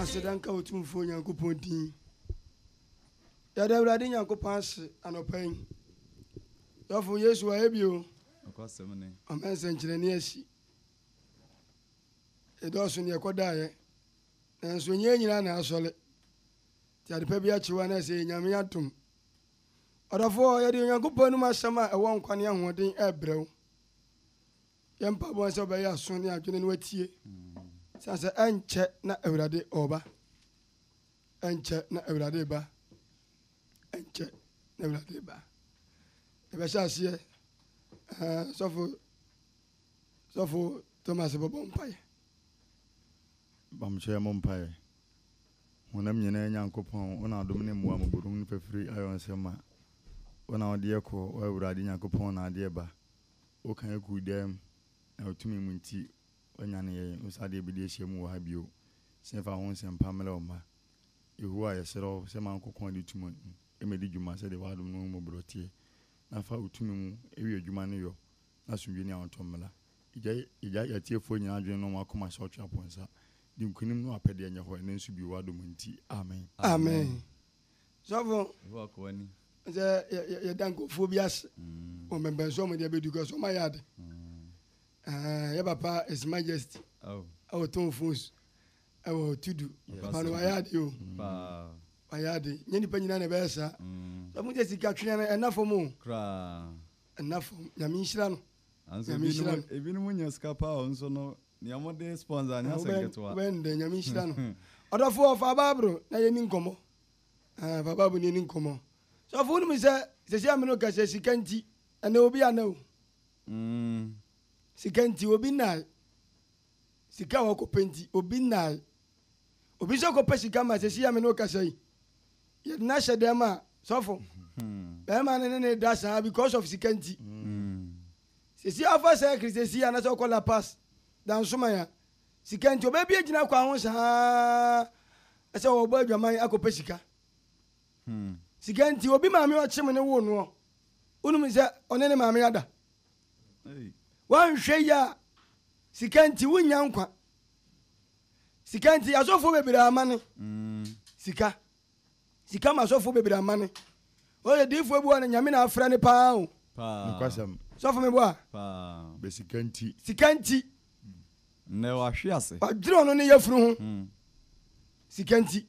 Aseda nka Otumfoɔ Nyankopɔn din. Yɛda Awurade Nyankopɔn ase anɔpa yi. Dɔfo Yesu wayɛ bio. Nokwasɛm ni. Ɔma nsɛnkyerɛnne asi. Ɛdɔɔso ne ɛkɔdaeɛ. Nanso ɛnyɛ yɛn nyinaa na asɔre. Nti adepa bi akyew a na ɛsɛ yɛ Nyame adom. Ɔdɔfoɔ, yɛde Onyankopɔn anom asɛm a ɛwɔ nkwa ne ahoɔden ɛbrɛ wo. Yɛ mpaebɔ ne sɛ wobɛyɛ aso ne adwene no atie, sane sɛ ɛnkyɛ na Awurade ɔba. Ɛnkyɛ na Awurade ba. Ɛnkyɛ na Awurade ba. Yɛbɛhyɛ aseɛ eh, sɔfo sɔfo Thomas bɛbɔ mpaeɛ. Bamkyɛ mo mpaeɛ. Honam nyinaa Nyankopɔn, wo na adom ne mmoa mo borum ne fafiri ayɔ nsɛm ma. Wo na wode yɛ kɔ, wo Awurade Nyankopɔn na adeɛ ba. Wokan kuu dan mu, na wo tumi mu nti woanyan yɛn wo nsa adeɛ bi de ahyia mu wɔ ha bio, sɛ yɛmfa wo ho nsɛmpa mmrɛ wo mma. Yehowa, yɛsrɛ wo sɛ ma nkokoaa a de tumi no mmɛdi dwuma sɛdeɛ w'adom no mmɔborɔ teɛ, na fa wo tumi mu wie adwuma no yɔ, na asomdwie ne ahotɔ mmra. Yɛgyae yɛn atiefoɔ nyinaa adwene ne wɔn akoma sɛ Ɔtweaponsa. Di nkonim ne w'apɛdeɛ nyɛ hɔ ɛnnɛ nso bio w'adom nti. Amen. Amen. Sɔfo, sɛ yɛda nkurɔfoɔ bi ase mm. wɔ mpɛmpɛn so ɔmɔde abɛdu kɔ so ɔma yɛ ade mm. yɛ papa his majesty oh. ɛwɔ tɔn phones ɛwɔ tudu papa no wayɛ ade o wayɛ ade nyɛ nipa nyinaa na ɛbɛyɛ saa mm. sɔfo sɛ sika twea no ɛna fam o ɛna fam nyame nhyira no nyame nhyira no ebinom nya sika paa nso no Nea ɔmo de sponsor anyɛ asɛm ketewa. Wo bɛn dɛ nyame nhyira no. Ɔdɔfoɔ fa bible na yɛni nkɔmmɔ ah fa bible na yɛni nkɔmmɔ sɔfo wonim sɛ sɛsi a mene wo kasa sika nti ɛnɛ obi ana o mm. sika nti obi nae sika a wɔkɔpɛ nti obi nae obi nso kɔpɛ sika ma sɛsi a mene wo kasa yi yɛde no ahyɛ dɛm a sɔfo bɛrima no ne ne da saa because of sika nti mm. Sisi afa circle sesi anasɛ ɔkɔ la pass da nso ma ya sika nti ɔbɛ bie gyina kwan ho saa ɛsɛ wɔ bɔ adwaman akɔ pɛ sika hmm. sika nti obi maame ɔkye me ne wo noɔ wonum sɛ ɔne ne maame ada wanhwɛ yi a sika nti wonya nkwa sika nti asɔfoɔ bebree amane hmm. sika Sika ma sɔfo bebree amane. Ɔyɛ diifoɔ bi hɔ no Nyame na afrɛ no paa o. Nokwasɛm. Sɔfo me boa. Paa. Bɛ sika nti. Sika nti. Nnɛ wahwe ase. Wadwene ɔno ne yafunu ho. Sika nti.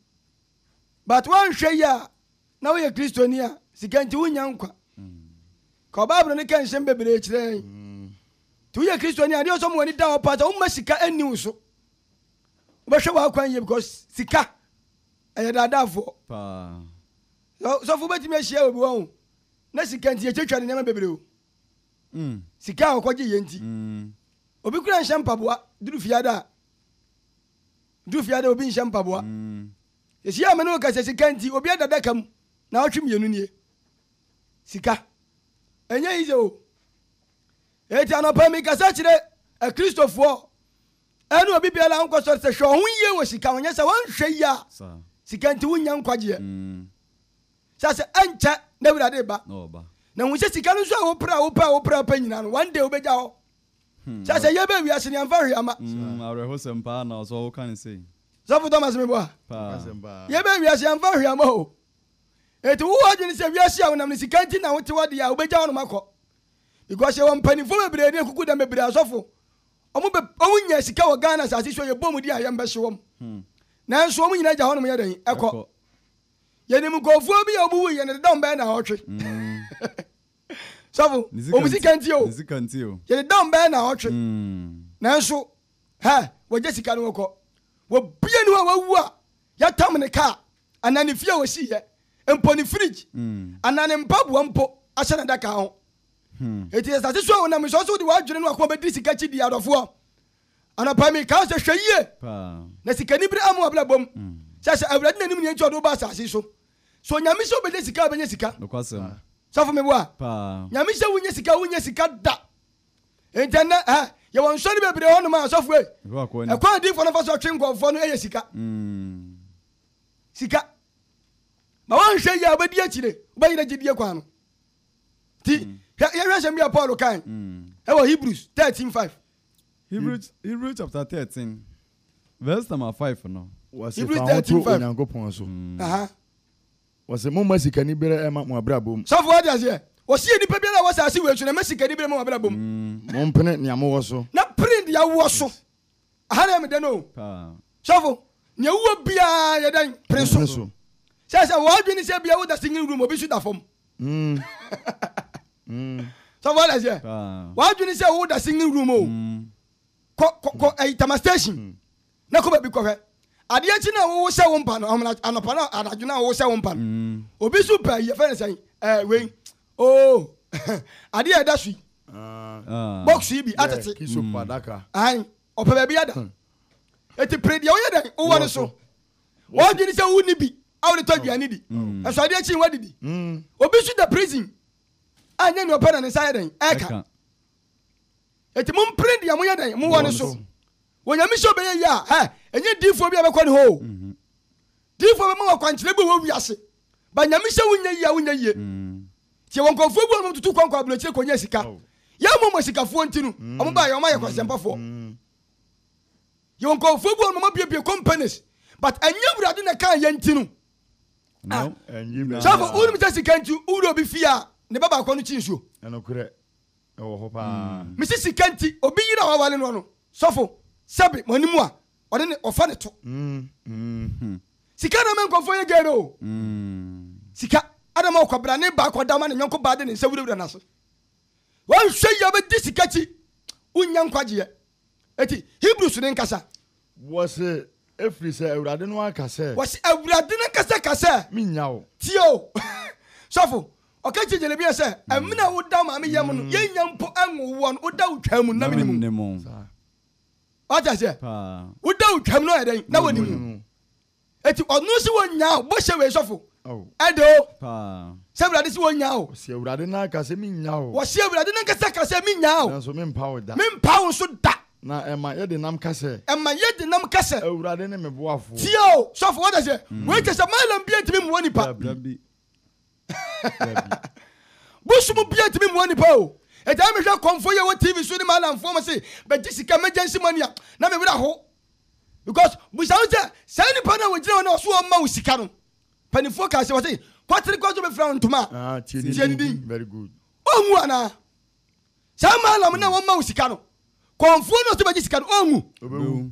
But wanhwɛ yie a na woyɛ Kristoni a sika nti wonnya nkwa. Ka Bible no ka nsɛm bebree kyerɛ yɛn. Nti woyɛ Kristoni a adeɛ ɔsɔ ma w'ani da hɔ paa sɛ womma sika nni wo so. Wobɛhwɛ w'akwan yie because sika. Ɛyɛ daadaafoɔ. Paa. Na sɔfo bɛtumi ahyia obi wɔn na sika nti yɛtwatwa ne nneɛma bebree o. Mm. Sika a ɔkɔgye yɛ nti. Mm. Obi kura nhyɛ mpaboa duru fiada a. Duru fiada obi nhyɛ mpaboa. Mm. Yɛhyia me ne wo kasa sika nti obi ada daka mu na ɔtwe mmienu nie. Sika. Ɛnyɛ yize o. Eti anɔpa mi kasa kyerɛ akristofoɔ Ɛne obi biara nkɔ sɔre sɛ hwɛ ɔho yie wɔ sika ho nyɛ sɛ wɔnhwɛ yie a sika nti wonnya nkwagyeɛ sɛ sɛ ɛnkyɛ na awurade ba na hu sɛ sika no nso a wopere a wopɛ a wopere a wopɛ nyinaa no one day wobɛgya hɔ sɛ sɛ yɛbɛ wiase ne amfa hwee ama awerɛhosɛm paa na ɔsɔ wo ka ne sei sɔfo thomas mebɔ a yɛbɛ wiase amfa hwee ama o ɛti wowɔ adwene sɛ wiase a wonam no sika nti na wote wadeɛ a wobɛgya hɔ nom akɔ because yɛwɔ mpanimfoɔ bebree ne akuku dɛm bebree asɔfo Ɔmo bɛ ɔmo nya sika wɔ Ghana asase so a yɛbɔ ɔmo din a yɛn bɛ hye wɔn. Nanso ɔmo nyinaa gya hɔ nom yɛ dɛn? Ɛkɔ. Yɛnim nkorɔfoɔ bi a ɔmo wui yɛ no deda ɔmo bɛyɛ naawɔtwe. Sɔfo, ɔmo sika nti o. Yɛdeda ɔmo bɛyɛ naawɔtwe. Nanso, hɛ, wɔgya sika no wɔkɔ. Obiara nni hɔ a wawu a yɛatam ne kaa. anaa ne fie a osiiɛ, mpo ne fridge anaa ne mpaboa mpo ahyɛ n'adaka ho. Enti sɛ asase so a wonam nsɔe so wode w'adwene ne w'akoma bɛdi sika akyi di adɔfoɔ. Anɔpa yi meka wo sɛ hwɛ yie na sikanibere amma w'abrabɔ mu. Sɛ hyɛ Awurade n'anim nea enti a ɔde wo baa asase yi so. Sɛ Onyame sɛ wobɛnya sika a wobɛnya sika. Sɔfo meboa? Nyame sɛ wonyɛ sika a wonyɛ sika da. Enti ɛnnɛ ɛhɛ yɛwɔ nsɔre bebree hɔnom a asɔfo ei, ɛkwan a adiyifoɔ no fa so twe nkurɔfoɔ no yɛ sika. sika. Ma woanhwɛ yie a wobɛdi akyire, wobɛyerɛ gyedie kwan no. Nti mm. hwɛ yɛhwɛ asɛm bi a Paul kae mm. ɛwɔ Hebrews thirteen five. Hebrews Hebrews chapter thirteen verse number five no. Wɔsi fa ho to Onyankopɔn so. Mm. Wɔsi mo ma sikani bere ɛma mo abrabɔ mu. Sɔfo adi aseɛ. Wɔsi yɛ nipa biara a wɔsɛ ase wɔ esu na ma sikani bere ɛma mo abrabɔ mu. Mo mpene nea mo wɔ so. Na pere nea wɔ so. Aha na meda no o. Sɔfo, nea wowɔ biara yɛ dɛn? Pene so. Sɛ sɛ w'adwene ne sɛ bia woda singing room obi nso da fam. Sɔfo wate aseɛ? W'adwene sɛ woda singing room o. Kɔ kɔ kɔ ɛyi tama station na kɔ baabi kɔhwɛ. Adeɛ kyi na wowo sɛ wo mpa no ahomena anɔpa na anadwo na wowo sɛ wo mpa no. Obi nso pɛ yɛfɛ ne sɛn ɛɛ wei oo adeɛ ɛda so yi. Box yi bi atete. Kisopo adaka. Aane, ɔpɛ baabi ada. Enti pere deɛ woyɛ dɛn wowɔ no so. W'adwene sɛ wonni bi a wode tɔ aduane di. Ɛsɛ adeɛ kye woadidi. Obi nso da prison a ɛnyɛ nea ɔpɛ na ne nsa yɛ dɛn ɛka. Enti mompere deɛ moyɛ dɛn mowɔ no so. Wɔ Nyame sɛ ɔbɛyɛ yie a, hɛ, ɛnyɛ diifoɔ bi a ɛbɛkɔ ne hɔ o. Diifoɔ bɛma wo akwankyerɛ bi wɔ wiase Ba nyame sɛ wonyɛ yie a wonyɛ yie. Tiɛ wɔ nkurɔfoɔ bi wɔ nom tutu kwan kɔ aburokyire kɔnyɛ sika. Yɛ mo mo sikafoɔ nti no ɔmo baeɛ ɔmo ayɛ kwasempafoɔ. Yɛ wɔ nkurɔfoɔ bi wɔ nom ɔmo abiebie companies but ɛnyɛ awurade na ɛkaa yɛ nti no. Ah sɔfo wonim sɛ sika nti wowura obi fie a ne ba baako no kyi nsuo. Ɛnokorɛ ɛwɔ hɔ paa. Mese sika nti obi yere a wawale noɔ no sɔfo sɛbe mo anim a ɔde ne ɔfa ne to. Sika na ɛma nkurɔfoɔ yɛ gay no o. Sika na ɛma ɔkwabrane baa kɔda ma ne nyɔnko baa de ne nsa wurawura n'ase. Wanhwɛ yie bɛdi sika akyi, wonnya nkwagyeɛ. Eti Hebrews no nkasa. Wɔse, Efiri sɛ Awurade no aka sɛ. Wɔse, Awurade no ankasa ka sɛ. Mennya wo. Tie o, sɔfo. Ɔka kyerɛ Jeremia sɛ, Ɛmene a woda wo maame yam no, yɛnnya mpo nwoo woɔ no, woda wo twaa mu, nna menim wo. Wate aseɛ? Wo da wo twam no yɛ dɛn? Na wɔnim mu. Eti ɔno si wɔn nyaa o, bɔhyɛ wei sɔfo. Ɛde o. Sɛ Awurade si wɔn nyaa o. Wɔsi Awurade n'anka sɛ mi nyaa o. Wɔsi Awurade n'ankasa ka sɛ mi nyaa o. Nanso mi mpa wo da. Mi mpa wo nso da. Na ɛma yɛ de nam ka sɛ. Ɛma yɛ de nam ka sɛ. Awurade ne me boafoɔ. Tie o, sɔfo, wate aseɛ? Wei kyerɛ sɛ Malam bia ntumi mmoa nipa. Dabi. Bosom bia ntumi mmoa nipa o. Enti ayɛ mehwɛ kɔmfoɔ yi a ɛwɔ TV so ne m'adamfoɔ ma se bɛgye sika emergency money a, na me werɛ ho. Because bisa wo sɛ, saa nipa no a wɔgyina hɔ no ɔse ɔmma wo sika no, mpaninfoɔ kaa se wɔse kɔtere koraa sɛ ɔbɛfira wo ntoma a, tie ne din. Ɔnwu anaa? Saa maalam no a wɔmma wo sika no, kɔmfoɔ no a ɔse bɛgye sika no, ɔnwu?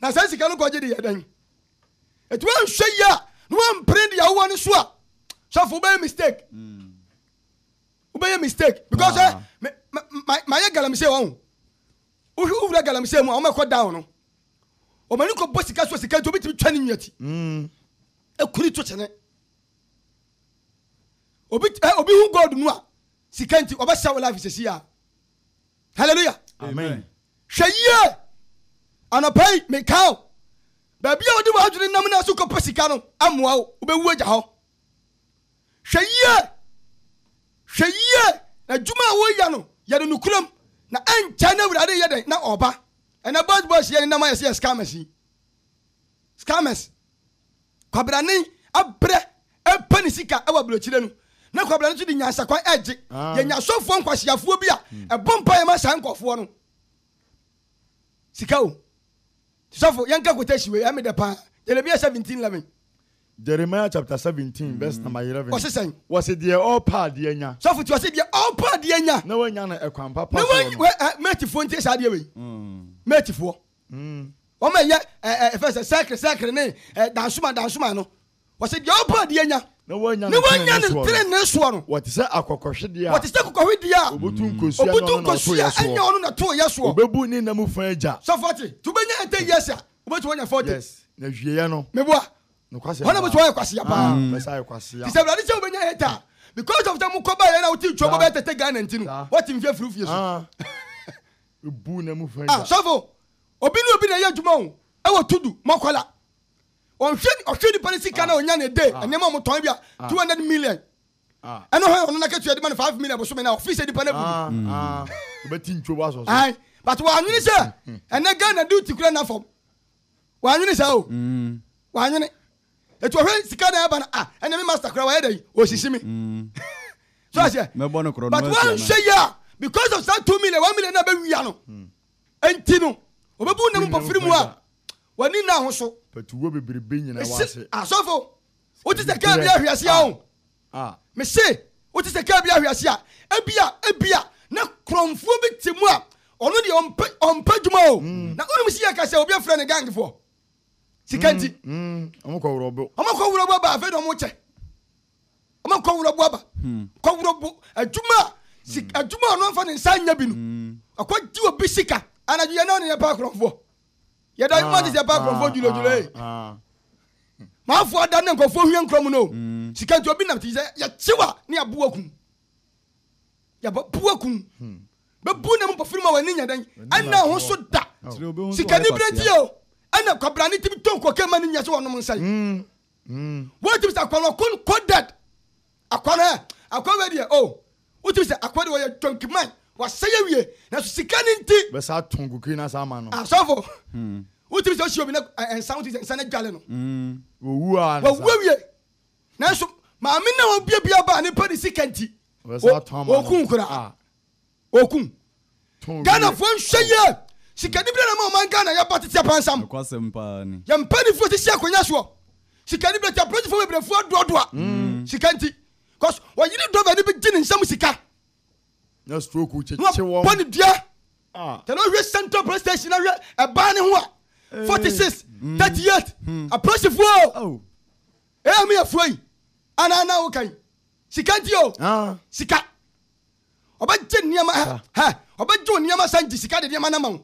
Na saa sika no kɔgye de yɛ dɛn? Eti wanhwɛ yie a na wampere deɛ wowɔ no so a sɔfo wobɛyɛ mistake. Mm. Wobɛyɛ mistake because eh, mayɛ galamsey wɔn ho. Wohwɛ wowura galamsey mu a wɔmɛkɔ down no. Wɔn ani kɔbɔ sika so sika nti obitumi twa ne nua ti. Mm. Ekuri to kyene. Obi eh, obi hu gold no a sika nti ɔbɛhyɛ wo life sɛsi a. hallelujah amen hwɛ yie anɔpa yi mekaa o baabi a wode w'adwene nam no so kɔpɛ sika no amoa wo wobɛwu agya hɔ hwɛ yie hwɛ yie na adwuma a woyɛ no yɛ no nokorɛm na ɛnkyɛ no awurade yɛ dɛn na ɔba ɛnɛ boys boys yɛ ne nam ayɛ sɛ yɛ scammers yi scammers Kwabena nen abrɛ repɛ ne sika wɔ aburokyire no na Kwabena no nso de nyansakwan regye. Yɛnya asɔfoɔ nkwaseafoɔ bi a ɛbɔ mpaeɛ ma saa nkurɔfoɔ no. Sika o. Sɔfo, yɛnka quotation wei, ɛyɛ me dɛ paa. Jeremiah 17, 11. Jeremiah chapter 17 verse mm. number 11. Wɔse sɛn? Wɔse deɛ ɔrepa adeɛ nya. Sɔfo ti wɔse deɛ ɔrepa adeɛ nya. Na wanya no ɛkwan papa so no. Na wɔn mɛtifoɔ ntie saa adeɛ wei. Mm. Mɛtifoɔ. Mm. Wɔn a ɛyɛ ɛɛ ɛfɛ sɛ sɛkere sɛkere ne ɛɛ dansoma dansoma no, wɔsi deɛ ɔpɛ ɔdeɛ nya. Na wɔnya ne wɔnya ne tenenee soɔ no. Wɔte sɛ akɔkɔhwedeɛ a. Wɔte sɛ akɔkɔhwedeɛ a. Obutu nkosua obutu nkosua ɛnyɛ ɔno na to yɛ soɔ. Obebu ne nam fa agya. Sɛ fɔte tu bɛ nya ɛtɛ yɛ sa obetumi anya fɔte. Yes na wieɛ no. Meboa. Nokwasɛ. Wɔn a mo sɛ wɔyɛ kwasia paa. Bɛsa ayɛ kwasia. Ti sɛ wulade sɛ wobɛnya ɛtɛ a because of sɛ mo kɔ ba yɛ na wote twɛ mo bɛ tɛtɛ Ghana nti no wɔte nfie firi fie so. buu na mu fɛn da. Sɔfo, obi ne obi na ɛyɛ adwuma o, ɛwɔ tudu, mɔkɔla. Ɔnhwɛ, ɔhwɛ nipa ne sika na ɔnya ne day, nneɛma a wɔtɔn ebia two hundred million. Ɛno hɛn ɔno n'akatua de ma no five million bosome na office nipa no abu no. Obɛti ntwo bɔ asɔ so. Ae, but w'anwene sɛ ɛnɛ Ghana duty kura nna fam. W'anwene saa o. W'anwene. etu ɔhwɛ sika na ɛba no a ɛna me master kora wayɛ dɛ yi osisi me mm. so aseɛ but wanhwɛ yi a because of saa two million one million na bɛwia no mm. nti no ɔbɛbu nam mpɔfiri mu a wani nna ho so asɔfo wote sɛ kaa bi ahwe ase a o mese wote sɛ kaa bi ahwe ase a ebia ebia na korɔmfoɔ bi te mu a ɔno deɛ ɔmpɛ dwuma o na wonom si yɛ ka sɛ obi afrɛ ne gangfoɔ sika nti ɔmo kɔ wurɔbo ɔmo kɔ wurɔbo aba afei na ɔmo kyɛ ɔmo kɔ wurɔbo aba hmm. kɔ wurɔbo adwuma hmm. adwuma ɔno nfa ne nsa nya bi no hmm. ɔkɔ di obi sika anadwo yɛ naa ne yɛ pa akorɔfoɔ yɛ da yɛ ma ne yɛ pa akorɔfoɔ dwulodwulo ee maa fo ada ne nkɔfoɔ hwɛ nkorɔ mu no sika nti obi nam ti sɛ yɛ kyewa ne aboa kun. Yɛbɛbu agu mu. Bɛbu na mu mpɔfiri ma w'ani nyɛ dɛn? Ɛnna ho so da. Sikanibere nti o, ɛnna kwabrane tumi tɔ nkuo kɛn ma no nyɛ sɛ wɔnom nsa yi. Wotumi sɛ akwa no ɔkon coded. Akwa no ɛ, akwa wei deɛ o, wotumi sɛ akwa deɛ ɔyɛ dwanki man, wasɛe awie, nanso sika no nti. Bɛsa atɔ nkukuo no asa ama no. Asɔfo, wotumi sɛ ɔhyia obi na nsa, wotumi sɛ nsa no adwale no. Wɔwu a. Wɔwu awie. Nanso maame no a ɔbia bia baa ne pɛ ne sika nti. wɔkum koraa wɔkum ghanafoɔ nhwɛ yie sikani bi na ma ɔman ghana yɛba tete apansam yɛ mpanimfoɔ sisi akonnwa soɔ sikani bi na ti apolisifoɔ bebrefo adoadoa mm. sika nti cause wɔyere dɔba ni bi gye ne nsam sika na stroke kyekye wɔn bɔ ne dua ah. tɛnɛ ɔhwɛ central police station na hwɛ ɛbaa ne ho a eh. forty six hmm. thirty eight hmm. apolisifoɔ ɛyɛ mi yɛ furo yi ana ana wokan. Sika nti o. Ah. Sika. Ɔbɛgye nneɛma hɛ hɛ. Ɔbɛgye wo nneɛma san gye sika de nneɛma no ama wo.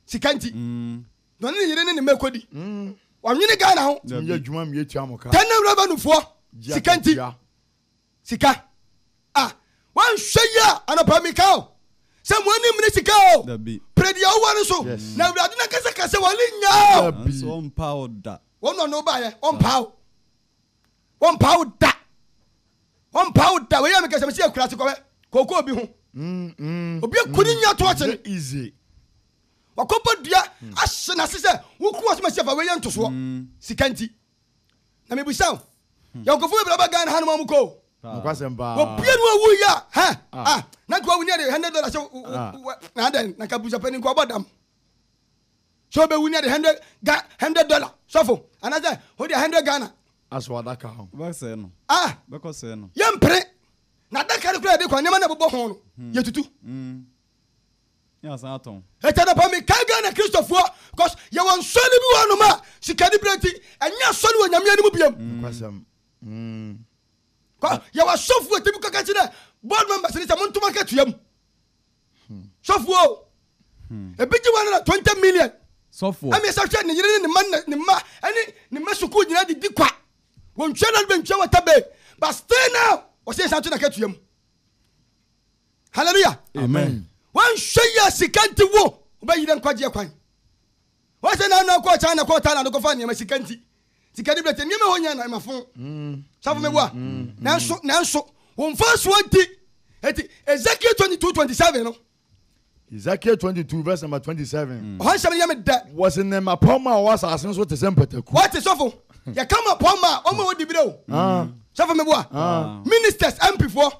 Sika nti. Mm. Na ɔne ne yere ne ne mma ɛkɔdi. Mm. Wɔnwene Ghana ho. Tumi yɛ adwuma mmie tua mo ka. Tɛnɛm revenuefoɔ. Sika nti. Sika. Ah. Wɔnhwɛ yi a anɔpa meka o. Sɛ mo anim ne sika o. Dabi. Pere deɛ wowɔ no so. Yes. Na awurade no ankasa ka sɛ wɔle nya o. Dabi. Nanso ɔmpaa wo da. Wɔn na ɔne wo baeɛ. Ɔmpaa wo. Wɔn mpaa wo da. Wɔn mpaa wo da. Wei yɛ mi kɛse mi si ekura ase kɔbɛ kɔkɔ obi ho. Mm, mm, obi eku ne mm. nya to ɔkye no. Easy. Wakɔbɔ dua mm. ahyɛ n'ase sɛ woku wɔ so ma si afa wei yɛ ntosoɔ mm. sika nti. Na mi bisa o. Hmm. Yɛn nkɔfo bebree ba Ghana ha no ma ɔmo kɔ o. Nokwasɛm paa. Wɔpie no awu yi a hɛ ah. ah na nka wɔwu ne yɛ de hundred dollars na adɛn na nka busapɛ ne nka ɔbɔ dam. sɛ ɔbɛwu ne de hundred ga hundred dollar sɔfo anaasɛ ɔde hundred ghana asɔ adaka ho bɛsɛe no ah bɛkɔ sɛe no yɛmpere na adaka no kora yɛde kɔ nneɛma na ɛbobɔ ho no hmm. yɛtutu hmm. yɛ asan atɔn ɛkyɛ no pa mekae ghana kristofoɔ because yɛwɔ nsɔre bi wɔ nom a sikani berɛ nti ɛnyɛ asɔre wɔ nyameɛ no mu biam hmm. yɛwɔ asɔfoɔ tumi kɔka kyi dɛ board members ne sɛ montoma ka tua mu Sɔfo o, ebi gye wɔn ara twenty million. Sɔfo. Ɛmi ɛsɛ hwɛ ne yere ne ne mma ne mma ɛne ne mma sukuu nyinaa de di kwa. Wɔn twɛ na wɔn twɛ wɔ tabe but still now wɔsɛ yɛsan to na kɛtua mu. Hallelujah. Amen. Wɔn hwɛ yɛ sika nti wo wɔbɛyi dɛ nkwagyeɛ kwan. Ɔhyɛ n'ano akɔ China kɔɔ Thailand kɔfa nneɛma sika nti. Sika de brɛ te nneɛma hɔ nyɛ na ɛmafo. Safo meboa. Nanso, nanso, wo mfasoɔ nti. Eti Ezekiel 22 27 no. Ezekiel 22 verse number 27. Ɔhɔ nsɛm no yɛ me dɛ. Wɔsi ne mapɔmma a ɔwɔ asase no so te sɛ mpataku. Wɔte sɔfo. Yɛka mapɔmma a wɔn a wɔdi bere o. Sɔfo meboa. Ministers, MPfoɔ.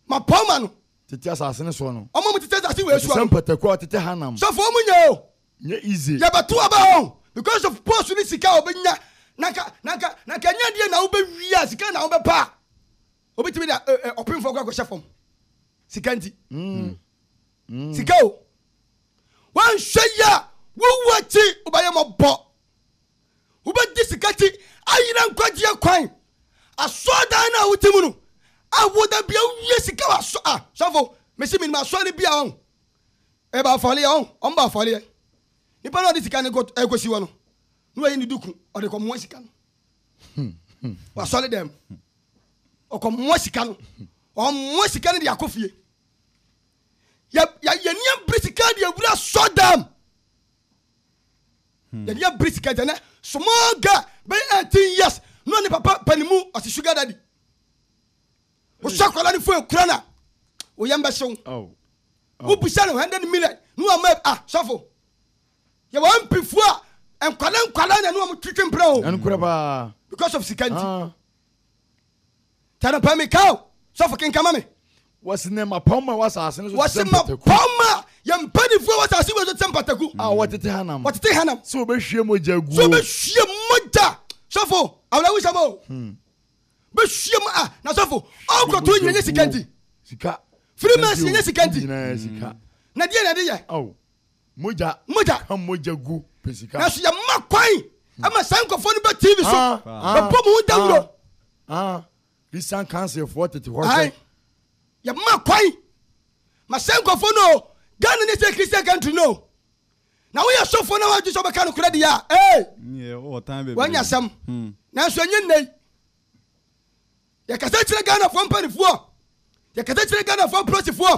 Mapaw m'ano. Tete asase no soɔ no. Wɔn a wɔtete asase wei soɔ no. Wɔte sɛ mpataku a wɔtete hanam. Sɔfo wɔn nyɛ o. Nyɛ ize. Yɛbɛto aba o. Because of post ne sika a wɔbɛnya. Na nka na nka na nka ɛnyɛ adeɛ na wobɛwie a sika na wobɛpɛ a. Wobɛtumi de ɔpemfoɔ kora kɔhyɛ fam. Sika nti. Sika o. Wanhwɛ yɛ a wowu akyi wobɛyɛ mɔbɔ. wobɛgye sika ti ayera nkwagyeɛ kwan asɔɔdan no a wote mu no a woda bia wowie sika wɔ asɔ a sɔfo mesi menim asɔɔ no bia ɔn ɛba afɔleɛ ɔn ɔn ba afɔleɛ nipa no ɔde sika no ɛkɔsi wɔ no na wayi ne duku ɔde kɔmmoa sika no wasɔre dɛm ɔkɔmmoa sika no ɔmmoa sika no de akɔ fie yɛnea bere sika de awura sɔ dam Hmm. yɛde abiri sika agya nɛ small girl bɛyɛ 18 years na ɔne papa pani mu ɔse sugar daddy wosɔ akwadaa no fo ekura na woyɛ mbɛhyew wobisa no 100 million ne wama ah sɔfo yɛwɔ mpifoɔ a nkwadaa nkwadaa na ne wɔn twitwi mpena o because of sika nti ah. Kyɛrɛ pɛ me ka o, sɔfo kenka ma me. Wɔsi ne mmapɔmma a ɛwɔ asase no so te sɛ mpataku. Wɔsi mmapɔmma a yɛn mpanimfoɔ a ɛwɔ asase wei so te sɛ mpataku. A wɔtete hanam. Wɔtete hanam. Sɛ wɔbɛhwie mogya aguo. Sɛ wɔbɛhwie mogya. Sɔfo, awerɛhosɛm o. Hmm. Bɛhwie mu a, na sɔfo, ɔkɔto nyina nyɛ sika nti. Sika. Freemason nyɛ sika nti. Nyina sika. Na deɛ na ɛde yɛ. Ao. Mogya. Mogya. Ka mogya gu pɛ sika. Nanso yɛma kwan ama saa nkurɔfoɔ no bɛ TV so bɛbɔ mo ho dawuro. Christian councilfoɔ tete hɔ hwɛ. Yɛma kwan ma saa nkurɔfoɔ no o Ghana ne sɛ Christian country no o na woyɛ sɔfoɔ na woadwe sɛ wobɛka no korɛ deɛ a ee wanya asɛm nanso ɛnyɛ nnɛ yi Yɛkasa kyerɛ Ghanafoɔ mpanifoɔ, yɛkasa kyerɛ Ghanafoɔ apolisifoɔ,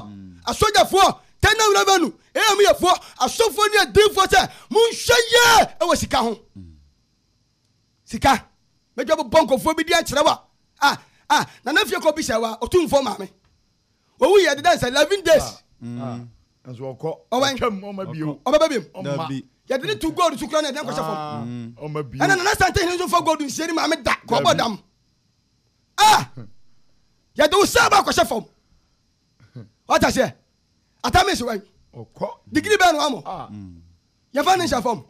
asogyafoɔ, Tɛnɛw Revenue, AMUYɛfoɔ, asɔfoɔ ne adiifoɔ sɛ monhwɛ yie wɔ sika ho. Sika. Mɛdwa bobɔ nkɔfoɔ bi di ankyerɛ wa. Ah, ah, Nana Fie kɔ bisa wa, ɔtumfoɔ maame. Owu yɛ deda nsa, 11 days. Ah, nso ɔkɔ, ɔtwam, ɔma bio. Ɔbɛba biom. Ɔma. Yɛde ne tu gold so kura na yɛde nkɔhyɛ fam. Ɔma bio. Ɛna Nana Sante hene nso fa gold nsie ne maame da, kɔbɔ dam. ah yɛde wo saa ba akɔhyɛ fam wata aseɛ atamis wɛn digiri bɛɛ no amɔ ah. yɛfa ne nhyɛ fam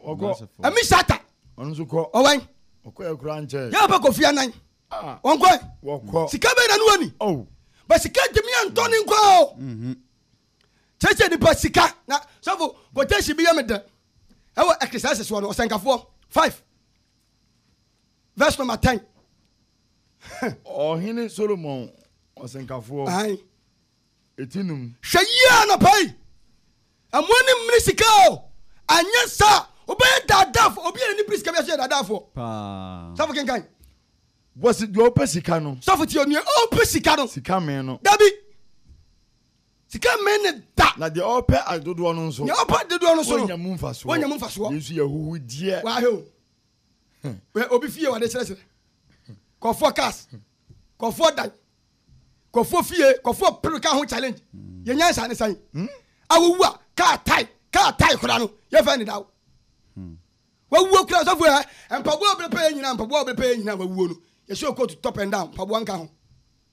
ɛmi sata ɔwɛn yɛbɛ kɔ fia nan ah. wɔnkɔ sika bɛɛ na ne wani oh. bɛ sika ntumi antɔ ne nkɔ o mhm. kyɛkyɛ nipa sika na sɔfo kɔtɛsi bi yɛ me dɛ ɛwɔ ɛkisɛsesoɔ no ɔsɛnkafoɔ five Verse number ten. Ɔhene Solomon ɔsenkafoɔ. Ayi. Eti num. Hwɛ yie anɔpa yi. Ɛmo ani mmiri sika o. Anyɛ saa wobɛyɛ daadaafo obi a n'ani biri sika bi ase yɛ daadaafo. Paa. Sɔfo kenkan. Wɔsi deɛ ɔpɛ sika no. Sɔfo tie onua ɔpɛ sika no. Sika mee no. Dabi. Sika mee ne da. Na deɛ ɔpɛ adodoɔ no nso. Deɛ ɔpɛ adodoɔ no nso no. Wɔnya mu nfasoɔ. Wɔnya mu nfasoɔ. Yesu yɛ huhudiɛ. Wahɛ o. obi fie wɔde kyerɛkyerɛ kɔfoɔ cars kɔfoɔ dan kɔfoɔ fie kɔfoɔ pere ka ho challenge yɛ nyansa ne sɛn awowu a kaa tae kaa tae kora no yɛfɛ ne daw wawuo kora sɔfo ɛ mpaboa ɔbere pɛyɛ nyina mpaboa ɔbere pɛyɛ nyina wawuo no yɛhyɛ okootu top and down mpaboa nka ho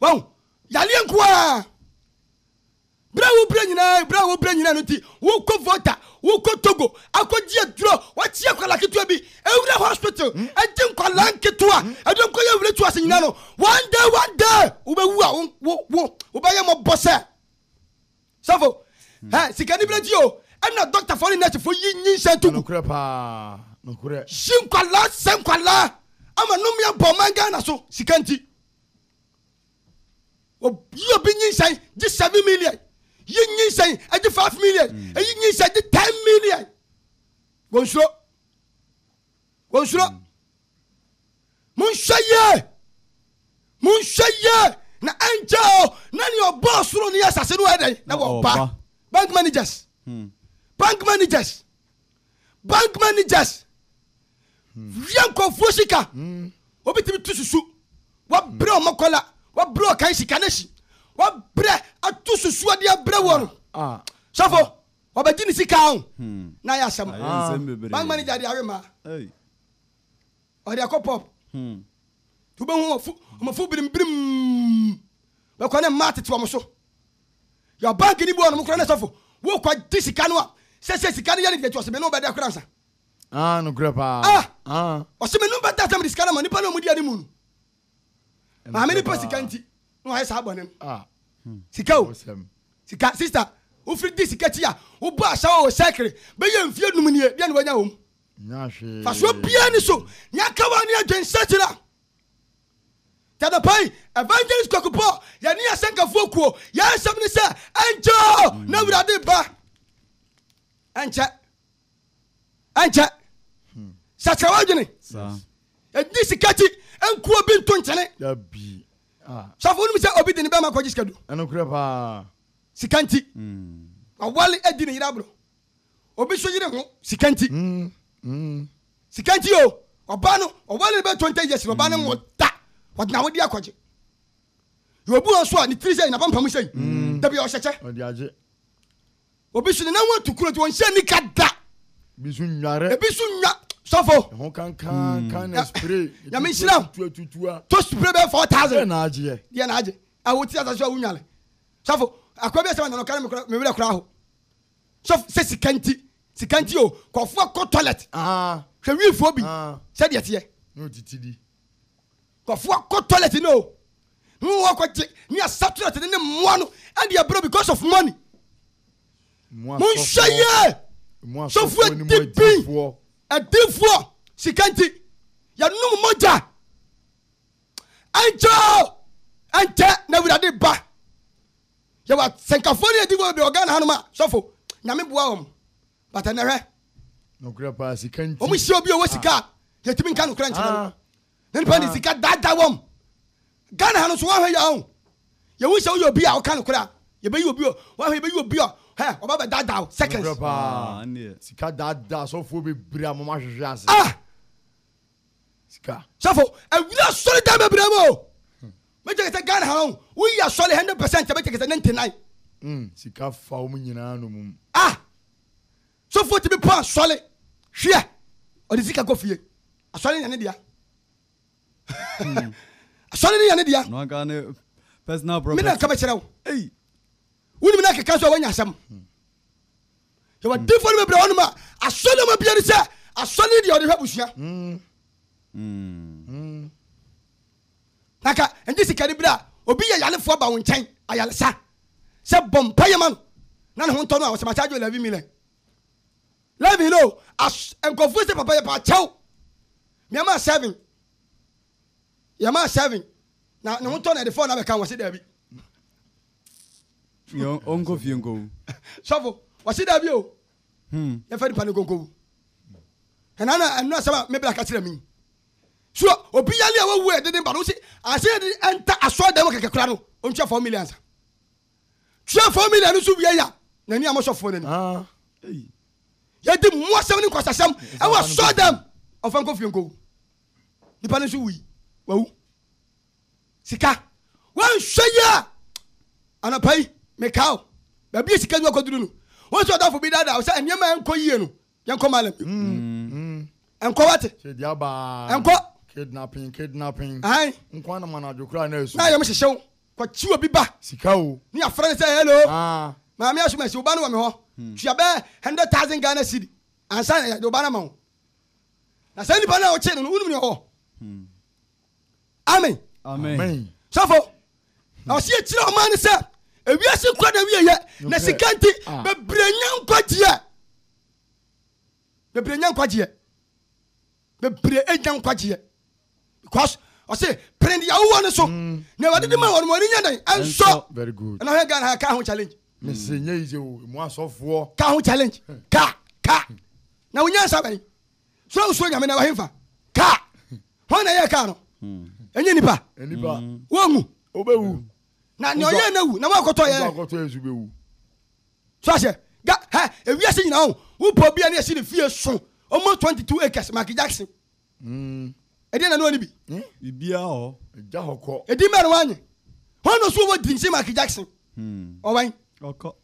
wahu yareɛ nko ara berɛ a wobrɛ nyinaa berɛ a wobrɛ nyinaa no nti wokɔ vota wokɔ togo akɔgye aduro wakye akwala ketewa bi ɛwura hospital hmm? ɛgye nkwala nketewa hmm? ɛde nkɔyɛ wura tu ase nyinaa no one day one day wobɛwu a wobɛyɛ mmɔbɔ sɛ Sɔfo, hɛ, sikanibere akyi o, ɛna dɔktafo ne nɛsefo yi nyinsɛn to gu. Nokorɛ paa, nokorɛ. Yi nkwadaa sɛ nkwadaa ama nnome abɔ ɔman Ghana so, sika nti. Yi obi nyinsɛn gye seven million, yi nyinsɛn gye five million, eyi nyinsɛn gye ten million. Wɔnsuro. wɔnsuro monhwɛ yie monhwɛ yie na ɛnkyɛ o na nea ɔbɔɔ soro ne asase no ɛdɛn na wɔba bank managers hmm. bank managers bank managers hmm. wia nkɔfoɔ sika hmm. wobɛtumi to susu wabrɛ ɔmɔkɔla wabrɛ ɔkan sika no hyi wabrɛ ato susuadeɛ brɛ wɔ no ah, ah, sɔfo ah. Ɔbɛgye ne sika o, na ayɛ asɛm. Bank manager de awe mmaa, ɔde akɔ pub. Nti wobɛhu wɔn fo birimbirim, bɛkɔ ne mmaa tete wɔn so. Yɛ bank ni bi wɔnom koraa ne sɔfo, wokɔ gye sika no a, sɛsɛ sika no yɛ ne deɛ nti ɔse me ne wobɛda koraa nsa. Ah, nokorɛ paa. Ah, ɔse me ne wobɛda sɛ mede sika no ama nipa no a wɔdi anim no. maame ne pɛ sika nti na wayɛ saa bɔne no ah. hmm. sika o sika sista wofiri di sika kyi a wobɔ ahyɛ wɔ sɛkere bɛyɛ mfie num nie deɛ ne wanya wɔ mu fasoɔ biaa ne so neaka wa ne adwen sɛkyera tadapai evangelist kwakupɔ yɛne asɛnkafoɔ kuo yɛnsɛm ne sɛ ɛnkyɛ na awurade ba ɛnkyɛ ɛnkyɛ sakyera w'adwene ɛdi sika ti nkuo bi nto nkyɛne ah. sɔfo wonim sɛ obi de ne bɛma kɔgye sika du sika nti hmm. wawale adi ne yere aborɔ obi so yere ho sika nti hmm. Hmm. sika nti o ɔba no ɔwale no bɛtɔ nta yɛsi no ɔba no wɔ da ɔde na wode akɔgye yɛ obi wɔ so a ne tiri sɛ napampam sɛi dabi ɔhyɛkyɛ Obi so ne nan ho atu kuro nti ɔnhyɛ nika da. Ebi so nnware. Ebi so nnwa sɔfo. Ɛho kankan kan na spray. Nyame nhyira wo. Tuatutua. To spray bɛyɛ four thousand. Deɛ na agyeɛ. Deɛ na agye. A wote asase so a wonwale. Sɔfo akwa bi asɛm ananɔ kare me werɛ koraa ho. Sɔfo sɛ sika nti sika nti o kɔfoɔ kɔ toilet. Hwɛ wiifoɔ bi sɛdeɛ teɛ. Na otiti di. Nkorɔfoɔ kɔ toilet no o na wɔn kɔ gye ne asatweret no ne mmoa no de abrɛ because of money. Monhwɛ yie! Sɔfoɔ adibi, adiifoɔ, sika nti yɛnom mogya. Ɛnkyɛ o, ɛnkyɛ na Awurade ba. Yɛwɔ asɛnkafoɔ ne adiifoɔ bebree wɔ Ghana hanom a, sɔfo, Nyame boa wɔn. But ɛnɛ hwɛ, Nokorɛ paa, sika nti. wɔn hyia obi a ɔwɔ sika a, yɛntumi nka nokorɛ nkyerɛ no. na nipa de sika daadaa wɔn ghana ha no so wɔhwɛ yɛ ɔn yɛhu sɛ woyɛ obi a ɔka no koraa yɛbɛyi obi o wɔhwɛ yɛbɛyi obi a hɛ ɔba bɛ daadaa o seconds sika daadaa sɔfoɔ bebree a mo ma hwehwɛ ase ah sika sɔfo awia sɔre dan bebree mu o mɛkyɛ kɛsɛ ghana ha no woyi asɔre hundred percent mɛkyɛ kɛsɛ ninety nine hmm, sika fa wɔn nyinaa no mu ah Sɔfoɔ tumi pɔ asɔre hwɛ ɔde sika kɔ fie asɔre no yɛ ne dea hmm. asɔre no yɛ ne dea me na nka bɛkyerɛ wo wonim na keka sɛ woanya asɛm hmm. yɛwɔ hmm. difoɔ no bɛbrɛ hɔnom a asɔre no ma bia ne sɛ asɔre no deɛ ɔde hwɛ abusua Na ka ɛnde sika no bere a obi yɛ yarefoɔ ba wo nkyɛn, ayaresa, sɛ bɔ mpaeɛ ma no na ne ho ntɔ no a, ɔsɛ makyɛ adwo Levy Millen. Levy no, as, nkurɔfoɔ sɛ papa yɛpa kyɛw, meɛmaa seven, yɛmaa seven, na ne ho tɔ no ɛde four no abɛka ho, ɔse daabi. Yɛ ɔnkɔ fie nkɔwu. Sɔfo, ɔse daabi o, hmm. yɛfa nipa no nkɔnkɔwu. Ɛna na ɛno asɛm a me bra ka kyerɛ me yi. So obi yare a wawu a yɛde ne ba no wose ansa yɛde ɛnta asɔredan mu kɛkɛ kora no ɔntua four million ansa tua four million nso wie ya n'ani a mosɔfoɔ n'ani ah, yɛde mmoasɛm ne nkwasasɛm ɛwɔ asɔredan ɔfa nkɔ fie nkɔwu nipa no nso wui wawu sika wanhwɛ yi a anapa yi mekaw baabi a sika nwa kɔduru no wɔn sɛ ɔdafo bi daadaa sɛ nneɛma a ɛnkɔ yie no yɛnkɔ malem ɛnkɔ wate ɛnkɔ kidnapping kidnapping ahan nkwa na mana adwo kura na esu na yɛm hyehyɛ wo kɔkyi obi ba sika o ne afra ne sɛ hello ah. maame asoma asi wo ba no wɔ me hɔ hmm. tua bɛɛ hundred thousand ghana cedi ansa na yɛde wo ba no ma wo na saa nipa no a wokye no no wonim ne ɔwɔ hmm. amen amen sɔfo na ɔsi ekyirɛ ɔman no sɛ ewiase kura na wiye yɛ na sika nti ah. bebree nya nkwagyeɛ bebree nya nkwagyeɛ bebree nya nkwagyeɛ because ɔsi pere deɛ awowɔ no so mm. na ɛwɔ de ma wɔn wɔn ani nya dɛn ɛnsɔ ɛna ɔhɛ ghana ha kaa ho challenge. mese nye yi o mu asɔfoɔ. kaa ho challenge kaa kaa na wonya nsa bɛn. So wosuro Nyame na wahemfa? Kaa! Hwan na ɛyɛɛ kaa no? Ɛnyɛ nipa. Wɔnwu. Obewu. Na nea ɔyɛɛ no awu na wɔakɔtɔ yɛ. So ahyɛ ga hɛ ewiase nyinaa o wopɔ bi a ne yɛsi ne fie so almost twenty two acres Michael Jackson. Hmm. Ɛdeɛ na ne ɔne bi. Hmm? Bibia hɔ. Ɛgya hɔ kɔ. Ɛdi mɛ no wanye. Hɔn na so wɔ drinks Michael Jackson. Hmm. Ɔwɛn. Ɔkɔ.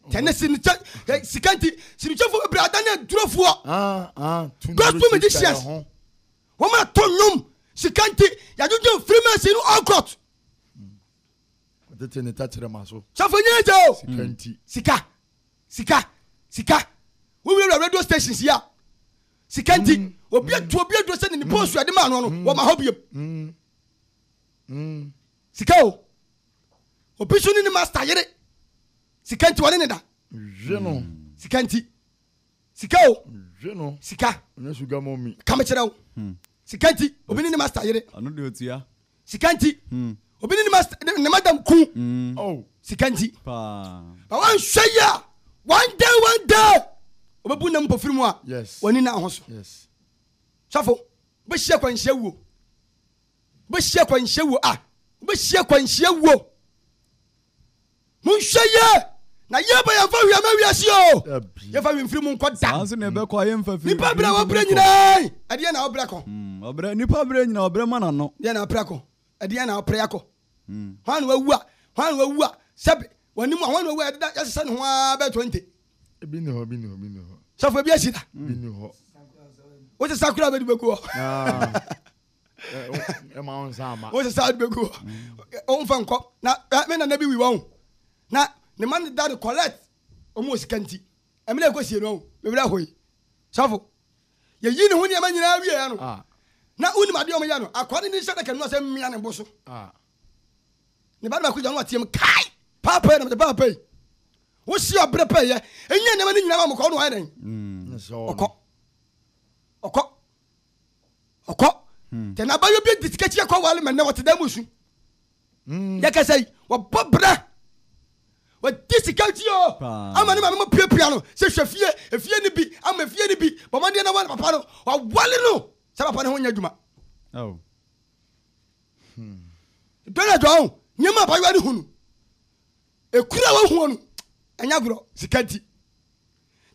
tɛne sinikyɛ ɛ sika nti sinikyɛfoɔ bebree adan yɛ durofoɔ Ah, ah, to gospel nuru ti musicians kyɛ ho. wɔn a to nnwom sika nti yɛadwodwo freemason no all court Ɔtete ne tɛkyerɛma so. sɔfo nyɛ gya o Sika nti. sika sika sika wowurawura radio stations yi a sika nti Mm. obi atu obi aduro sɛ ne ne post ade maa no no wɔma hɔ biam Mm. Mm. sika o Obi nso ne ne master yere. Sika nti wɔne ne da. Hwe no. Sika nti. Sika o. Hwe no. Sika. Ɔnyɛ sugar mommy. Ka me kyerɛ wo. Hmm. Sika nti obi ne ne master yere. Ɔno de otua. Sika nti. Hmm. Obi ne ne master ne madam ku. Hmm. Oh. Sika nti. Paa. Ba wanhwɛ yi a one day one day ɔbɛbu nam mpofiri mu a. Yes. Wɔne na ho so. Yes. Sɔfo bɛhyia kwanhyia wuo. Wobɛhyia kwanhyia wuo a. Wobɛhyia kwanhyia wuo. Monhwɛ yie na yie ba yɛmfa hwee ma wiase o. Yɛmfa hwee mfiri mu nkɔ da. Saa nso na ɛbɛkɔ a yɛmfa firi. Nipa berɛ a wɔbrɛ nyinaa ɛdeɛ na wɔbrɛ kɔ. Ɔbrɛ nipa berɛ nyinaa ɔbrɛ ma n'ano. Deɛ na ɔprɛ kɔ. Ɛdeɛ na ɔprɛ akɔ. Hwan na wawu a hwan na wawu a sɛbe wɔne mu a hwan na wawu a yɛdeda yɛsesa ne ho ara bɛyɛ twenty. Ebi ni hɔ bi ni hɔ bi ni hɔ. Sɔfo ebi asi da. Bi ni hɔ. Wote sakura bɛdi bɛgu hɔ. ɛma wo nsa ama wo sɛ saa de bɛgu hɔ ɔmfa nkɔ na me nana bi wi wɔ ho na ne ma ne da no collect ɔmo wɔ sika nti ɛmena ɛkɔ sie no ɔho mewerɛ hoi sɔfo yɛyi ne ho nneɛma nyinaa wieɛ no na wonim adeɛ ɔmo yɛ no akoa no ne hyɛ daka nua sɛ mmea ne bo so ne ba no baako gya no ateam kae paapa yi na mede paapa yi wosi ɔbere pɛyɛ ɛnyɛ nneɛma no nyinaa ma mokɔ no ayɛ dɛn ɔkɔ ɔkɔ ɔkɔ hmm. tɛ na abayɔ bi de sika kyia kɔ wale ma nnɛ wɔte dan mu su hmm. yɛkɛsɛ yi wɔbɔ berɛ wɔde sika ti o ama ne maame mu piapia no sɛ hwɛ fie efie no bi ama efie no bi bɔmmɔdeɛ na wale papa no wɔwale no sɛ papa no ho nyɛ adwuma oh. hmm. dɔn adwa ho nneɛma abayɔ ne hu no ɛkura wɔhuo no ɛnyɛ agorɔ sika nti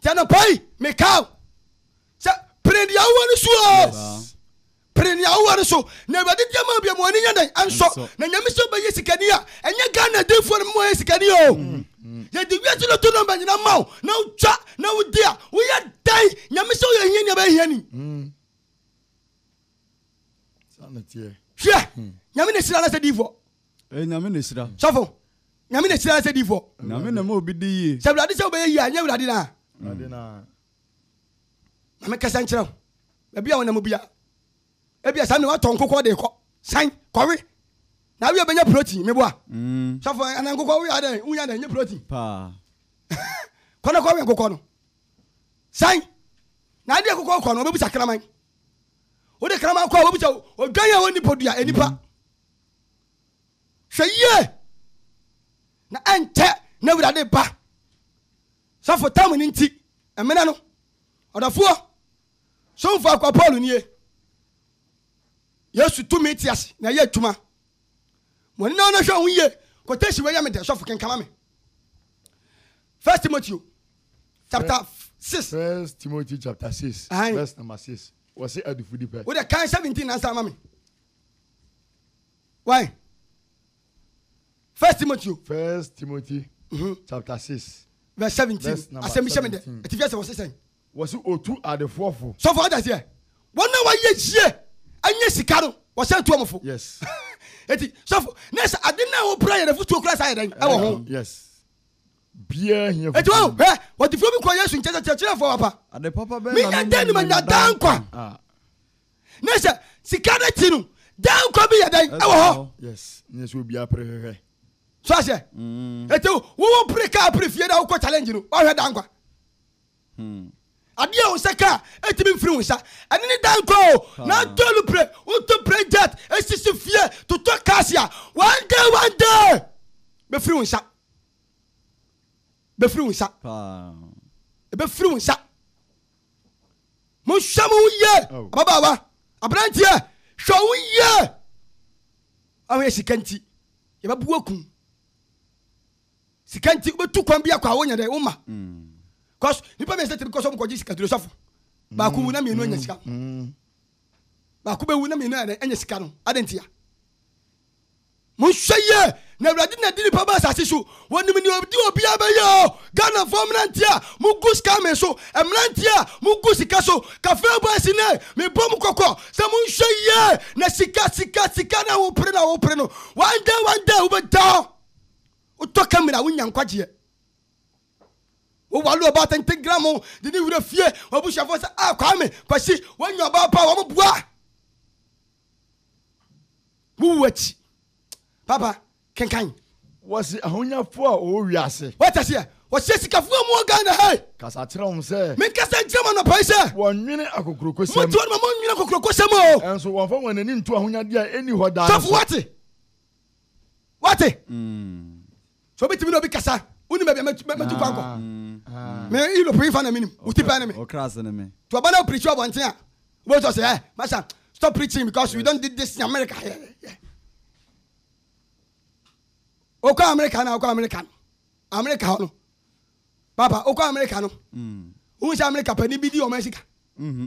Nti anɔpa yi mekaa wo sɛ pene deɛ wowɔ no so o pene deɛ wowɔ no so na awurade deɛ ma bia ma w'ani nyɛ dɛn ɛnsɔ na nyame sɛ bɛyɛ sikani a ɛnyɛ ghana difoɔ no mma ɔyɛ sikani o yɛde wiase no to nɔmba nyina ma wo na wotwa na wodi a woyɛ dɛn nyame sɛ woyɛ hia nea bɛhia ni hwɛ nyame ne sira no sɛ difoɔ Ɛyɛ Nyame na ɛhyira. Sɔfo, Nyame na ɛhyira sɛ difoɔ. Nyame na ɛma obi di yie. Sɛ Awurade sɛ wobɛyɛ yie a, nyɛ Awurade na. Awurade na. Ma me kasa nkyerɛ wo. Baabi a wɔnam bia, ebia saa mmerɛ watɔ nkokɔ de kɔ. San, kɔwe. Na awie bɛnya protein, meboa. Mm. Sɔfo, ana nkokɔ woyɛ adɛn, wonya dɛn, nyɛ protein. Paa. Kɔ na kɔwe nkokɔ no. San, na adeɛ nkokɔ kɔ no, wɔbɛbusa kraman. Wode kraman kɔ a, wɔbusa odwan a ɔnni podua, ɛnipa. Mm. Hwɛ yie, na ɛnkyɛ na Awurade reba. Sɔfo tam no nti, mmena no. Ɔdɔfoɔ, somfo akoa Paul nie. Yesu tumi te ase na ɛyɛ adwuma. Mo ani na ɔno hwɛ ho yie. Quotation wei yɛ me dɛ, sɔfo kenkama me. First Timothy chapter six. First Timothy chapter six, verse number six. Wɔsi adifudipɛ. Wode kan seventeen nansa ama me. Why? First Timothy o. First Timothy mm-hmm. chapter six. Verse seventeen. Asɛm bi hyɛ mi dɛ. Ɛti fi ɛsɛ wɔsi sɛn. Wɔsi otu adefoɔ fo. Sɔfo ɔda seɛ. Wɔn na wɔyɛ yie ɛnyɛ sika no wɔsɛn tuo mo fo. Yes. Eti sɔfo na ɛsɛ ade na wɔpra yɛrɛ futuo kura saa yɛ dɛ ɛwɔ ho. Yes. Biara hiɛ futuo. Eti wɔn hɛ wɔde furo bi kɔ Yesu nkyɛn sɛ kyerɛkyerɛfoɔ wapa. Ade papa bɛyɛ na mi nya dɛ ni ma nya dan kwa. Ah. na sɛ sika no ti no dan nkwa bi yɛ dɛn ɛwɔ hɔ yes nyɛ sɛ obi apere hwehwɛ so ahyɛ mm. ɛti wowo pere kaa pere fie na wokɔ challenge no wahwɛ dan nkwa hmm. adeɛ wo sɛ kaa ɛtumi mfiri wo nsa ɛne ne dan nkwa o na atɔ lu pere woto pere jet ɛsisi fie totɔ cars a one day one day bɛfiri wo nsa bɛfiri wo nsa ɛbɛfiri wo nsa Monhwɛ mo ho yie, ababaawa, aberanteɛ, hwɛ wo ho yie. Ahoyɛ sika nti, yɛbɛbu wakun. Sika nti, wobɛtu kwan bi akɔ a wonya dɛ, woma. Kɔs, nipa mmiɛnsa tumi kɔ so mokɔgye sika duro sɔfo. Baako wu na mmienu anya sika. Baako bɛwu na mmienu anya sika no, adɛn ntia? Monhwɛ yie na awurade na di nipa ba asase so wɔnim nea ɔdi obiara bɛyɛ o Ghanafoɔ mmeranteɛ a mo gu scamming so mmeranteɛ a mo gu sika so kafee boys no ee me bɔ mo kɔkɔ sɛ monhwɛ yie na sika sika sika no a wo pere no a wo pere no one day one day wo bɛ da wo tɔ camera wo nya nkwagyeɛ wo wale ɔbaa tenten gram ho de ne wura fie wɔn abusuafoɔ sɛ a ah, kwame kwasi wɔn nya ɔbaa paa wɔn boa Wo wu akyi. Papa, kenkan. Wɔse ahonyafo a wɔwɔ wiase. Wate aseɛ? Wɔhyɛ sikafo a wɔwɔ Ghana ha yi. Kasa kyerɛ wɔn sɛ. Menkasa nkyerɛ wɔn anɔpa yi sɛ. Wɔnnwene akokurokosɛm. Mote hɔ no ma monnwene akokurokosɛm o. Nso wɔmfa wɔn ani nto ahonyade a enni hɔ daa no so. Sɔfo, woate? Wate? So obi tumi ne obi kasa? Wonim baabi a matu kwan kɔ? Me Europe yi fa na menim. Wo tipɛ ne me. Ɔkra ase ne me. To ɔba na o preach ɔbɔnten a, wobɛhu sɛ ɔsɛ, eh, Master, stop preaching because we don't did this in America. Yeah, yeah. Okɔ America na okɔ America no. America hɔ no. Papa, okɔ America no. Wohu sɛ America pani bi di ɔman sika. Mm-hmm.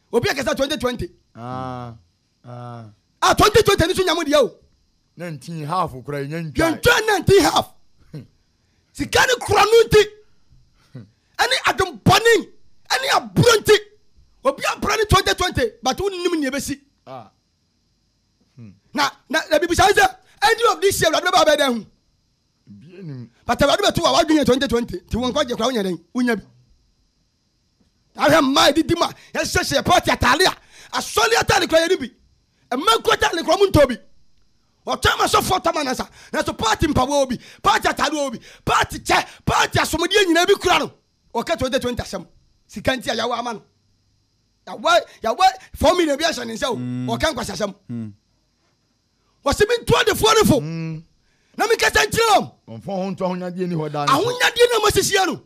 obi akasa twenty twenty ah, ah. a twenty twenty ni so nya mu deɛ o na nti half kura yɛn ntwa yɛn ntwa na nti half hmm. sika ni kura no nti hmm. ɛne adempɔne ɛne aburo nti obi abura ne twenty twenty but wo nim nea ebesi ah. hmm. na na na bibi sɛ ɛsɛ ɛdi of this year wulade bɛ ba bɛ dɛn ho but wulade bɛ to wa wa dun yɛ twenty twenty ti wɔn kɔ jɛ kura wɔn yɛ dɛn wunya bi. Ahwɛ mmaa a edidi mu a yɛhyehyɛ pɔɔte ataade a asɔre ataade koraa yɛnni bi. Mmaa kuo ataade koraa wɔntɔ bi. Wɔtɔn ma asɔfoɔ tɔ ma nnansa. Nanso pɔɔte mpaboa wɔ bi, pɔɔte ataade wɔ bi, pɔɔte kyɛ, pɔɔte asomdeɛ nyinaa ebi kura no. Ɔka 2020 asɛm. Sika nti a yɛawa ama no. Yɛawa yɛawa four million bi ahyɛ ne nsa o. Ɔka nkwaseasɛm. wɔsi mi ntu adefoɔ no fo na mi kasa nkyerɛ wɔn. Wɔnfa wɔn ho nto ahonyadeɛ ni hɔ daa no so. Ahonyadeɛ na wɔasisi yɛ no.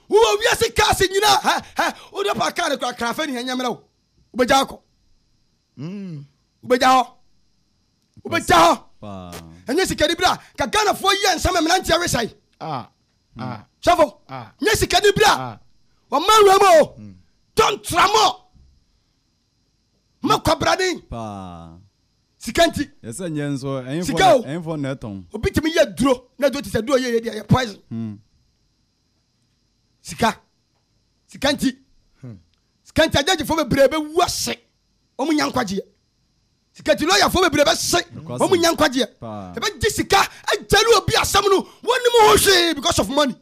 Wowɔ wiase kaase nyinaa hɛ hɛ wode pa kaa no kora krafe ne ɛnyɛ mmerɛ wo. Wobɛgya akɔ. Mm. Wobɛgya hɔ. Wobɛgya hɔ. Ɛnyɛ sikani bira ka Ghanafoɔ yɛ nsɛm mmeranteɛ wesae. Ah. Hmm. Ah. Sɔfo. Ah. Nyɛ sikani bira. Ah. Wɔma wura mu o. Hmm. Don't tramɔ. Ma kwabrane. Paa. Sika nti. Yɛ sɛ nyɛ nso ɛyin fɔ na ɛyin fɔ na ɛtɔn. Obi tumi yɛ duro na duro ti sɛ duro yɛ yɛ di ɛyɛ poison. Hmm. Sika. Sika nti. Hmm. Sika nti agyagyefoɔ bebree bɛ wu ase. Wɔn nya nkwagyeɛ. Sika nti lɔyafoɔ bebree bɛ se. Wɔn nya nkwagyeɛ. Ɛbɛ gye sika agyali obi asɛm no wɔn nim ho hwee because of money.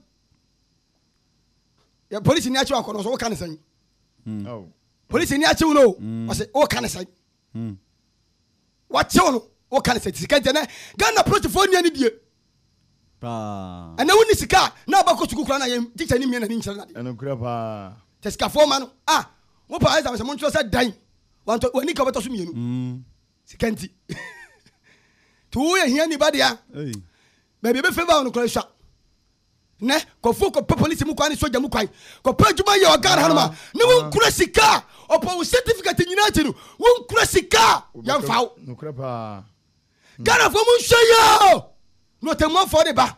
Yɛ polisi ni akyerɛ akɔnɔ so wɔka ne sɛn. Hmm. Oh. Polisi ni akyew no o. Mm. Ɔse o ka ne sɛn. Mm. Wakyew no o ka ne sɛn. Sika nti ɛnɛ Ghana polisifoɔ ni ani die. Paa. Ɛnɛ wo ni sika na abɛkɔ sukuu kura na yɛn teacher ni mie na ni nkyerɛ na de. Ɛno kura paa. Sɛ sikafoɔ ma no a mo pa exam sɛ mo nkyerɛ sɛ dan wantɔ wani ka ɔbɛtɔ so mienu. Mm. Sika nti. To wo yɛ hia ni ba dea. Hey. Baabi ebe favor no kura sua. Nnɛ, nkurɔfoɔ kɔpɛ polisi mu kwan ne sogya mu kwan kɔpɛ adwuma yɛ wɔ Ghana hanom a, ne wonkura sika a ɔpɔ wo certificate nyinaa akyi no, wonkura sika a yɛmfa wo. Nokorɛ paa. Ghanafoɔ monhwɛ yie o, na ɔtɛmmuafoɔ reba.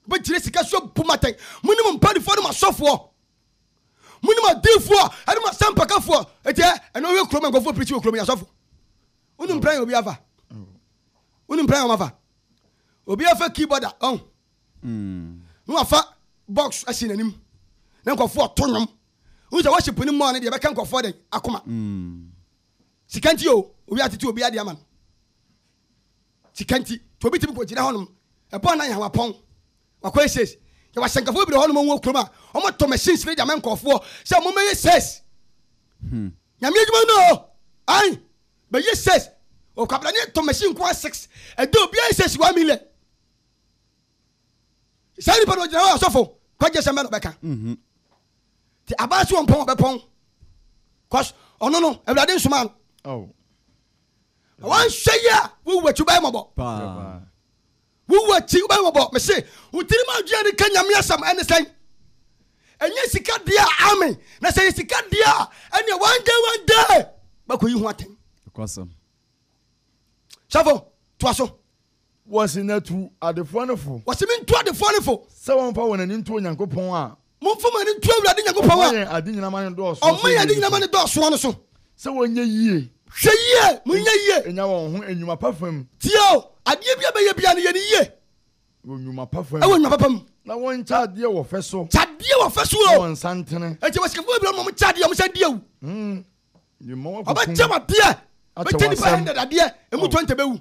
Wobɛgyina sika so abu mo atɛn. Mone mo mpaninfoɔ ne mo asɔfoɔ. Mone mo adiifoɔ ne mo asɛmpakafoɔ. Enti ɛ, ɛnɛ wohwɛ kurom a nkurɔfoɔ pirikyi wɔ kurom yi, asɔfo, wonim plan a obi afa? Wonim plan a wɔafa? Obi afa keyboard a ɔn. Na wafa box asi n'anim. Na nkurɔfoɔ ɔto nnwom. Wohu sɛ worship no mmɔɔ no deɛ ɛbɛka nkurɔfoɔ dɛn akoma. Sika nti o, obi atete obi adeɛ ama no. Sika nti. Nti obi tumi kɔgyina hɔnom. Ɛbɔ anan ha wapɔn. Wakɔ yɛ sales. Yɛwɔ asɛnkafo bebree wɔ hɔnom wɔ kurom a wɔtɔ machines no de ama nkurɔfoɔ sɛ mommɛyɛ sales. Nyame adwuma no o. Ae. Bɛ yɛ sɛs wɔ kwabena ne tɔ machine nko ara six ɛda obiara yɛ sɛs one million saa nipa na ogyina hɔ asɔfo kɔgye sɛm bɛ na ɔbɛka mhm. te abaa so ɔmpɔn ɔbɛpɔn cause ɔno no awurade nsoma no oh. na wanhwɛ yi a wowu akyi bɛyɛ mɔbɔ Wo wu akyi, wobɛyɛ wɔbɔ. Me se, wo tirim adwene a de ka Nyame asɛm ɛne sɛn? Ɛnyɛ sika deɛ a, amen. Na sɛ yɛ sika deɛ a, ɛneɛ one day one day, bɛkɔ yi ho atɛn. Nokwasɛm. Sɔfo, toa so. Wɔse na tu adefoɔ no fo. Wɔse me ntu adefoɔ no fo. Sɛ wɔmfa wɔn ani nto Onyankopɔn a. Momfa mo ani nto Awurade Nyankopɔn a. Ɔma yɛn ade nyina ma no dɔɔsoɔ so. Ɔma yɛn ade nyina ma no dɔɔsoɔ no so. Sɛ wɔnyɛ yie. Hwɛ yie, monyɛ yie. Nya wɔn ho nnwuma pa fa mu. Tie o, adeɛ biara bɛyɛ biara no yɛ no yie. Wɔ nnwuma pa fa mu. Wɔ nnwuma pa fa mu. Na wɔnkyɛ adeɛ wɔ fɛ so. Kyɛ adeɛ wɔ fɛ so o. Na wɔnsa ntene. Enti wɔ sikafo bebree no ma wɔkyɛ adeɛ, wɔsan di awu. Wɔbɛkyɛ w'adeɛ. Wɔbɛkyɛ nnipa 100 adeɛ, ɛmu 20 bɛwu.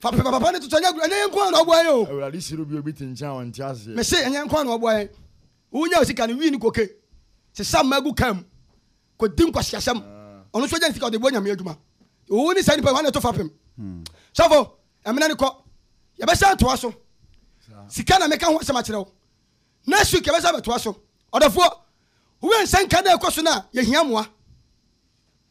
Fa pɛpa papa no toto ɛnyɛ agorɔ ɛnyɛ yɛn nko ara na ɔboa yɛn o. Awurade hyira obi a obi te nkyɛn a ɔnte aseɛ. Me se ɛnyɛ yɛn nko ara na ɔboa yɛn. Wonya wo sika no wii ne koke sesa mma gu car mu kɔ di nkwaseasɛm ɔno nso ɔgya ne sika ɔde bɔ nyame adwuma. Wo ne saa nipa yi wɔn na ɛto fapem. Sɔfo ɛmena ne kɔ yɛbɛsa atoa so sika na meka ho asɛm akyerɛ wo next week yɛbɛsa bɛtoa so ɔdɔfoɔ wowɛ nsɛnka na ɛkɔ so no a yɛhia mmoa.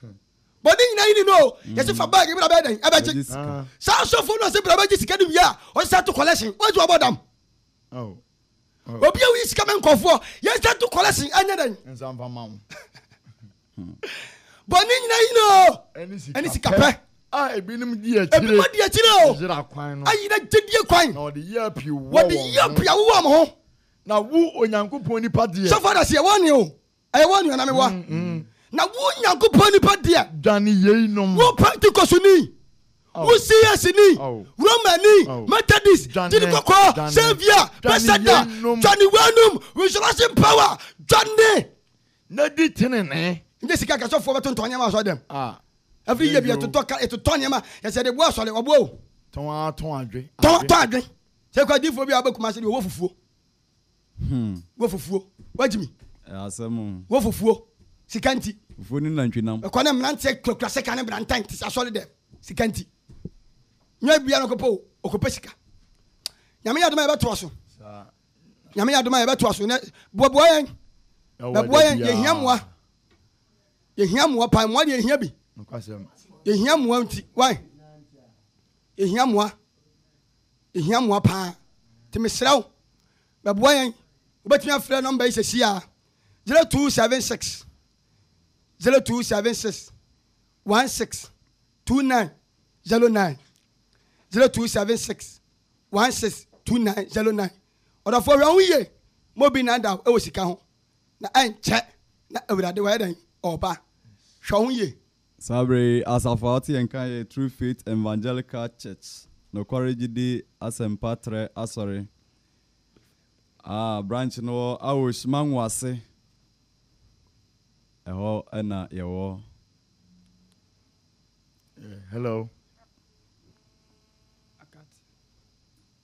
Hmm. bɔ ne nyinaa yini no o mm. yɛsi fa bag ebira bɛyɛ dɛn ɛbɛgye saa asɔfo no ɔsi bira bɛgye sika no wia ɔsi sɛ to collection wɔn ti wɔn bɔ dam oh. Oh. obi awo yi sika mɛ nkɔfoɔ yɛn sɛ to collection ɛnyɛ dɛn hmm. bɔ ne nyinaa yini o ɛni sika pɛ a ebinom di akyire ebinom di akyire o yira kwan no ayi na gyedie kwan na ɔde yi apia wɔ wɔn ho wɔde yi apia wɔ wɔn ho na wo onyankopɔn nipa deɛ sɔfɔ adasi ɛwɔ ni o. Ɛyɛ wɔ anuanom mi wɔ. Na wo Nyankopɔn nipa deɛ. Dwane yeinom. Wo Pentekosuni. Wo CSni. Romani. Methodist. Gyini kɔkɔɔ. Savior. Bɛsɛda. Dwane weinum. Resurrection power. Dwane. Na di tenenee. Nye sika kasɔfoɔ bɛ tontɔn nneɛma asɔre dɛm. Every year bi yɛ totɔ ka yɛ totɔ nneɛma yɛ sɛ de bu asɔre ɔbo o. Tɔn a tɔn adwe. Tɔn tɔn adwe. Sɛ kɔ adiifoɔ bi a ɔbɛ kuma ase de ɔwɔ fufuo. Hmm. Wo fufuo. Wagye mi. Ɛyɛ asɛm o. Wo fufuo. Sika nti. Fufuo ne nantwinam. Ɛkɔ ne mmeranteɛ kurakura sika ne brantan te sɛ asɔre dɛm. Sika nti. Nyɛ bia no kɔpɛ o. Ɔkɔpɛ sika. Nyame yɛ adom a yɛbɛtoa so. Nyame yɛ adom a yɛbɛtoa so. Nɛ boaboa yɛn. Bɛboa yɛn. Yɛhia mmoa. Yɛhia mmoa paa. Mmoa deɛ yɛhia bi. Yɛhia mmoa nti. Why? Yɛhia mmoa. Yɛhia mmoa pa ara, nti mesrɛ wo bɛboa yɛn. Wobɛtumi afrɛ nɔmba yi seesei ara, 0276 0276 162909, 0276 162909. Ɔdɔfoɔ, hwɛ wo ho yie ma obi nnaadaa wo wɔ sika ho, na ɛnkyɛ na Awurade wayɛ dɛn? Ɔreba. Hwɛ wo ho yie, Saa bere yi, asafo a ɔte yɛn nka yɛ True Faith Evangelical Church, Nokware Gyidi Asɛmpa Trɛ Asɔre, a branch no wɔ Awosh, Mango ase. Ɛhɔ na yɛwɔ. Hello.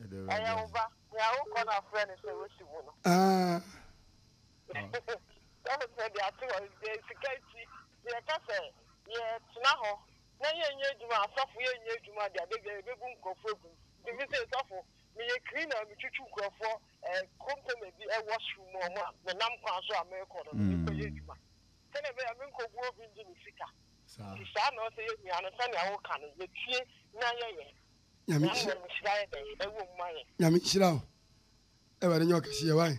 Ɛyɛ wo ba, nea wokɔ na frɛ no sɛ wosi wo no. Sɛ mepɛ de ato hɔ no, deɛ sika nti, deɛ ɛka sɛ yɛtena hɔ na yɛnyɛ adwuma, asɔfo yɛnyɛ adwuma deɛ, da biara yɛbɛbu nkurɔfoɔ agu. Nti me se, sɔfo, meyɛ cleaner, metwitwi nkurɔfoɔ container bi washroom mu a wɔn a menam kwan so a merekɔ no, mekɔyɛ adwuma. Sɛdeɛ ɛbɛyɛ a menkɔbu obi ngye ne sika. Nti saa na ɔsɛ yɛn nua no, sɛdeɛ woka no, yɛtie na yɛyɛ. Nyame nhyira. Nyame nhyira wo. Awurade nyɛ ɔkɛseɛ wae.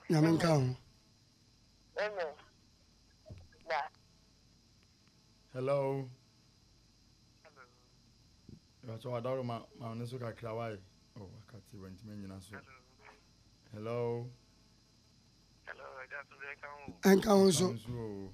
Nyame nka ho. Hello. Ìbàtọ̀ wà dárò ma ma ọ̀nà so kakra wáyé. Ọ̀ oh, wákàtí wọ̀ ntìmẹ̀ nyina so. Hello. Hello. Ẹ̀ka ho so. Ẹ̀ka ho so.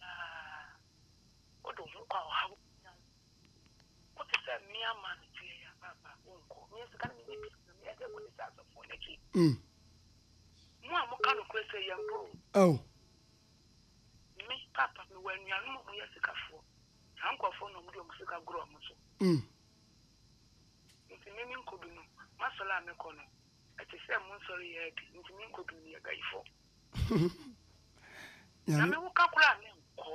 Na wode wo ho kɔ a ɔhaw bɛnya wo. Wote sɛ mmea ma no teɛ yi a, paapa wonkɔ. Meɛ sika no menyɛ bi na meɛde akɔdi sɛ asɔfoɔ no akyi. Mo a moka nokorɛ sɛ yɛnkɔ o. Me, paapa mewɔ anuanom a wɔyɛ asikafoɔ. Saa nkurɔfoɔ no wɔde wɔn sika goro wɔn so. Nti me menkɔ bi no. M'asɔre a mekɔ no, ɛte sɛ mo nsɔre yɛ bi. Nti menkɔ bi no, meyɛ bayifoɔ. nyame wo ka kora ne nkɔ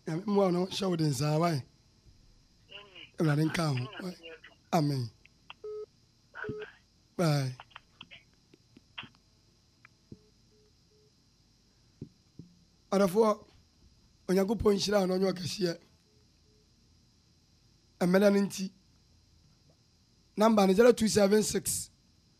nyame mmoa no hyɛ wo den saa wae awurade nka ho amen bye ɔdɔfoɔ onyankopɔn nhyira a na ɔnyɛ ɔkɛseɛ mmɛda no nti namba no 0276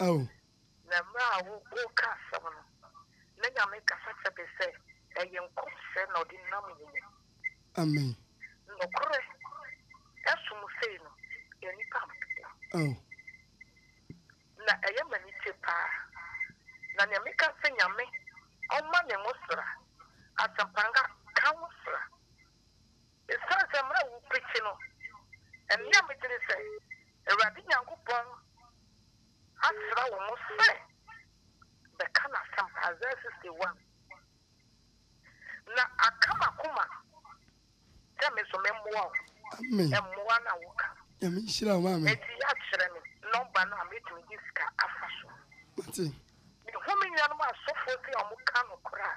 Ao. Na mmerɛ a woreka asɛm no, na Nyame kasa kyerɛ me sɛ ɛyɛ nkɔmhyɛ na ɔde nam wo mu. Amen. Nokorɛ, ɛsom sei no, nnipa mpɛ no. Ao. Na ɛyɛ me anigye paa. Na deɛ meka ne sɛ Nyame ɔmma ne nwosra, asɛmpa nka nwosra. Esiane sɛ mmara wu bere nti no, ɛnnɛ a megye di sɛ Awurade Nyankopɔn asra wo mo sɛ bɛka N'asɛmpa, Isaiah 61, na aka m'akoma sɛ me nso memmoa wo mmoa no a woka no, enti yɛakyerɛ me nɔmba no a metumi de sika afa so. Mehu me nuanom asɔfoɔ sɛ wɔka nokorɛ a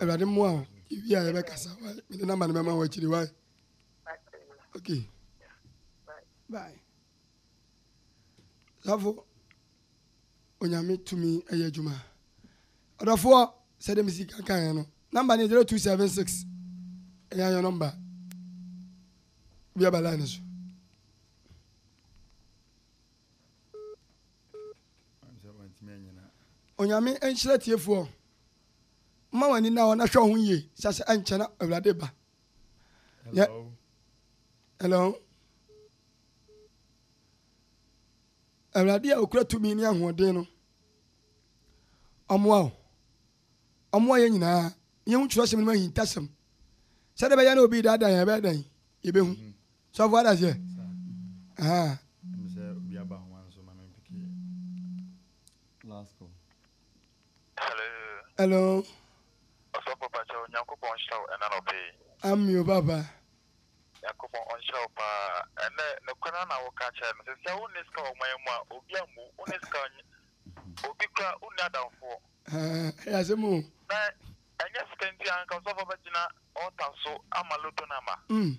awurade mmoa wo yɛwie a yɛbɛkasa wae mede namba no bɛma wo akyiri wae ok bye safo onyame tumi ɛyɛ adwuma ɔdɔfoɔ sɛ dɛ mesi kankaeɛ no namba no yɛ 0276 ɛyɛ yɛ nɔmba biaba line so Onyame nhyira atiefoɔ. Mma w'ani nna hɔ na hwɛ wo ho yie sɛ sɛ ɛnkyɛ na Awurade ba. Hello. Hello. Awurade a okura tumi ne ahoɔden no ɔmoa wo. Ɔmoa yɛn nyinaa. Yɛhu kyerɛsɛm no mu ahintasɛm. Sɛdeɛ ɛbɛyɛ na obi daadaa yɛn ɛbɛyɛ dɛn? Yɛbɛhu. Mm-hmm. Sɔfo adahyɛ. Ɛhɛn. Ɛmu sɛ obi aba ho nso ma me mpeke yɛ. Last call. Hello. Hello. Ɔsɔfo Pakyɛ Onyankopɔn nhyira wo ɛna nɔpɛ yi. Ami o papa. Nyankopɔn ɔnhyira wo paa. Ɛnɛ nokorɛ na wo ka kyerɛ no. Sɛ sɛ wo ne sika wɔ man mu a obi ammu wo ne sika obi kura wo nni adamfoɔ. Ɛyɛ asɛm o. Na ɛnyɛ sika nti anka ɔsɔfo bɛgyina ɔɔta so ama loto no ama. Mm.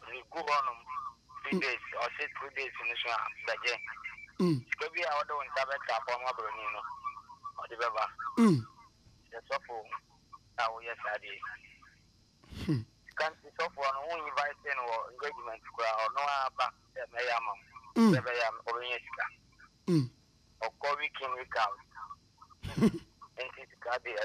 Regu hɔ nom three days ɔse three days no so a bɛgye sika bi a ɔde wo nsa bɛtra apoa ma broni no ɔde bɛba sɛ sɔfo a woyɛ saa deɛ sika nti sɔfoɔ no wonyi vaise no wɔ engagement koraa hɔ no aba sɛ mɛyɛ ama wo sɛ bɛyɛ a ɔbɛnya sika ɔkɔ week in week out nti sika deɛ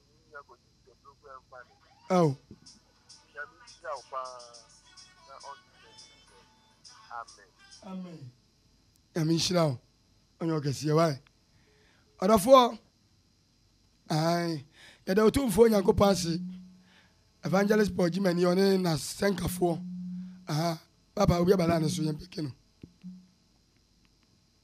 Ao. Nyame nhyira wo ɔnyɛ ɔkɛseɛ wae ɔdɔfoɔ yɛda ɔtumfoɔ nyankopɔn ase evangelist paul gyimani ɔne nasɛnkafoɔ papa obi abala ne so yɛmpɛke no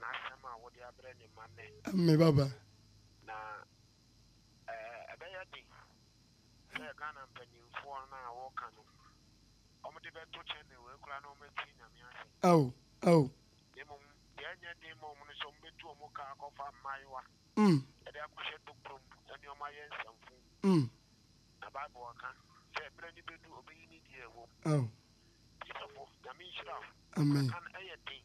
N'asɛm a wode abrɛ ne mma nnɛ. Me baba. Na ɛbɛyɛ den sɛ Ghana mpanyinfoɔ no a wɔka no, wɔde bɛto channel wei koraa na wɔatie Nyame asɛm. Ao, ao. Na mmom deɛ ɛnyɛ den ma wɔn no sɛ wɔbɛtu wɔn car akɔfa mmaayewa de akɔhyɛ tokuro mu ne wɔn ayɛ nsɛmfo. Na Bible aka sɛ ɛberɛ no bɛdu ɔbɛyi ne deɛ ɛwɔ mu. Ao. Tiefo, Nyame nhyira wo. Amen. Ɛyɛ den.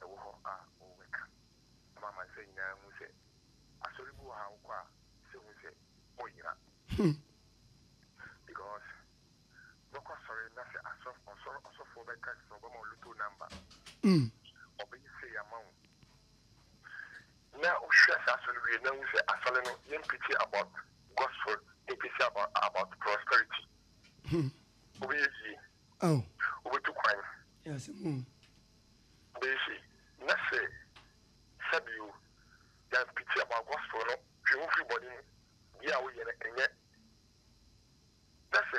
ɛwɔ hɔ a wɔbɛka ama amansan nyinaa ahu sɛ asɔre bi wɔ ha a wokɔ a sɛ hu sɛ wɔyera. Because wobɛkɔ asɔre na sɛ ɔsɔfoɔ bɛka sɛ ɔbɛma wo lotto number, ɔbɛyɛ sei ama wo na wohwɛ saa asɔre no wie na wohu sɛ asɔre no yɛn preaching about gospel, yɛn preaching about prosperity, wobɛyɛ yie Ao. Wobetu kwan. Ɛyɛ asɛm o. Wobɛyɛ sei, na sɛ sɛ bi o, Jan Pitia baa Gospel no twe ho firi bɔne mu, deɛ a woyɛ no ɛnyɛ, na sɛ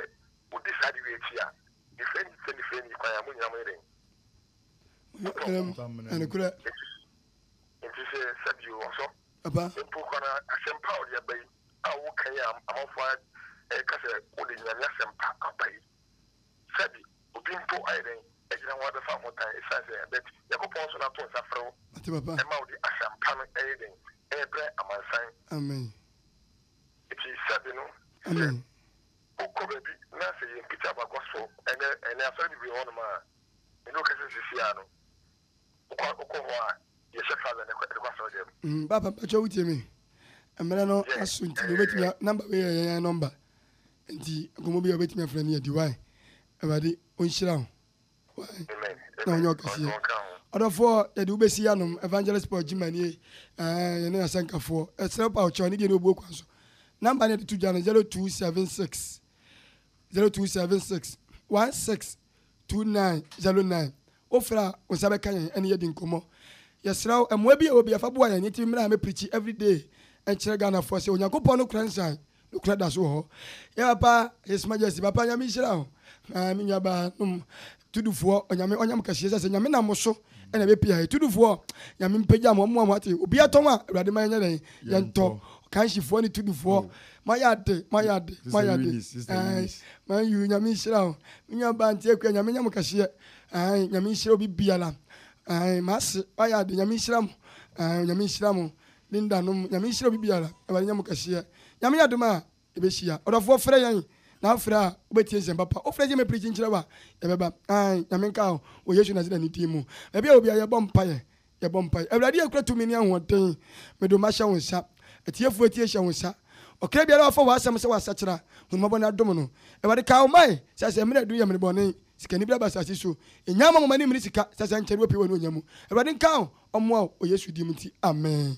wodi saa ade wei akyi a, nifirɛ ni sɛ nifirɛ ni kwan a, mo nyinaa moyɛ dɛn? Motɔ wo ho. Ɛnokorɛ. Enti sɛ sɛ bi o, ɔsɔ. Papa. Mpo kora no asɛmpa a ɔde aba yi a woka yi a amanfoɔ ɛɛka sɛ wode Nyame asɛmpa aba yi. Sɛbe obi mpo ayɛ dɛn agyina ho abɛfa wo ho tan esiane sɛ ɛyɛ bet Nyankopɔn nso na to nsa frɛ wo Ate papa. ɛma wode asɛm pa no ɛyɛ dɛn ɛrebrɛ amansan. Amen. Enti sɛbe no sɛ Amen. wokɔ baabi na sɛ yɛn picture ba kɔ so ɛnɛ ɛnɛ asɔre bebree wɔ hɔnom a ɛne wo kasa sisi ara no Papa mpakyɛw wotie me? Mmerɛ no aso nti wobɛtumi a number wei yɛ yɛn number nti nkɔmmɔ bi a wobɛtumi afrɛ no yɛdi wae Awurade ɔnhyira wo wae na ɔnyɛ ɔkɛseɛ ɔdɔfoɔ yɛde wobɛsi yɛanom Evangelist Paul Gyimanie ɛɛ yɛne asɛnkafoɔ ɛsrɛ pa ɔkyɛw ne deɛ ne ɔbuo kwan so number ne yɛde to dwa no 0276 0276 16 2909 Wofrɛ a, wo nsa bɛka yɛn ɛne yɛadi nkɔmmɔ. Yɛsrɛ wo, mmoa bi a ɛwɔ bia fa boa yɛn nti mmra mɛprikyi everyday nkyerɛ Ghanafoɔ sɛ Onyankopɔn no korɛ nsan no korɛ daso wɔ hɔ. Yɛ papa, His Majesty, papa Nyame nhyira wo na me nuabaa nom Tudufoɔ Onyame ɔnyam kɛseɛ sɛ sɛ Nyame nam mo so na ɛbɛpie ha yi. Tudufoɔ Nyame mpagya mo, ɔmmoa mo ate obia tɔn a Awurade ma yɛnyɛ dɛn yɛntɔ. Kanhyifoɔ ne Tudufoɔ moayɛ ade, moayɛ ade, moayɛ ade, ae, Man U Nyame nhyira wo me nuabaa Anti Akua Nyame nyɛ mo kɛseɛ ae nyame nhyira obi biara ae mase wayɛ ade nyame nhyira mo ae onyame nhyira mo Linda nom nyame nhyira obi biara awurade nyɛ mo kɛseɛ nyame yɛ adom a yɛbɛhyia ɔdɔfoɔ frɛ yɛn na afrɛ a wobɛtie nsɛm papa wofrɛ sɛ mɛprikyi nkyerɛ wo a yɛbɛba ae nyame nka wo wɔ yesu Nasareni din mu baabi a wɔ biara yɛbɔ mpaeɛ Yɛbɔ mpae. Awurade a ekura tumi ne ahoɔden, mede wo mma hyɛ wo nsa. Atiefo atie hyɛ wo nsa. Ɔkra biara a wafa w'asɛm sɛ wasakyera, hu no mmɔbɔ na dom no. Awurade, kae wo man, sɛ sɛ mmere adu yɛ mmere bɔne. Sikani bi aba asase so. Nnya mma mo mma ne mmiri sika, sɛ sɛ nkyɛre wɔpue wɔ ne onya mu. Awurade nka wo, ɔmmoa wo, wɔ Yesu din mu nti, amen.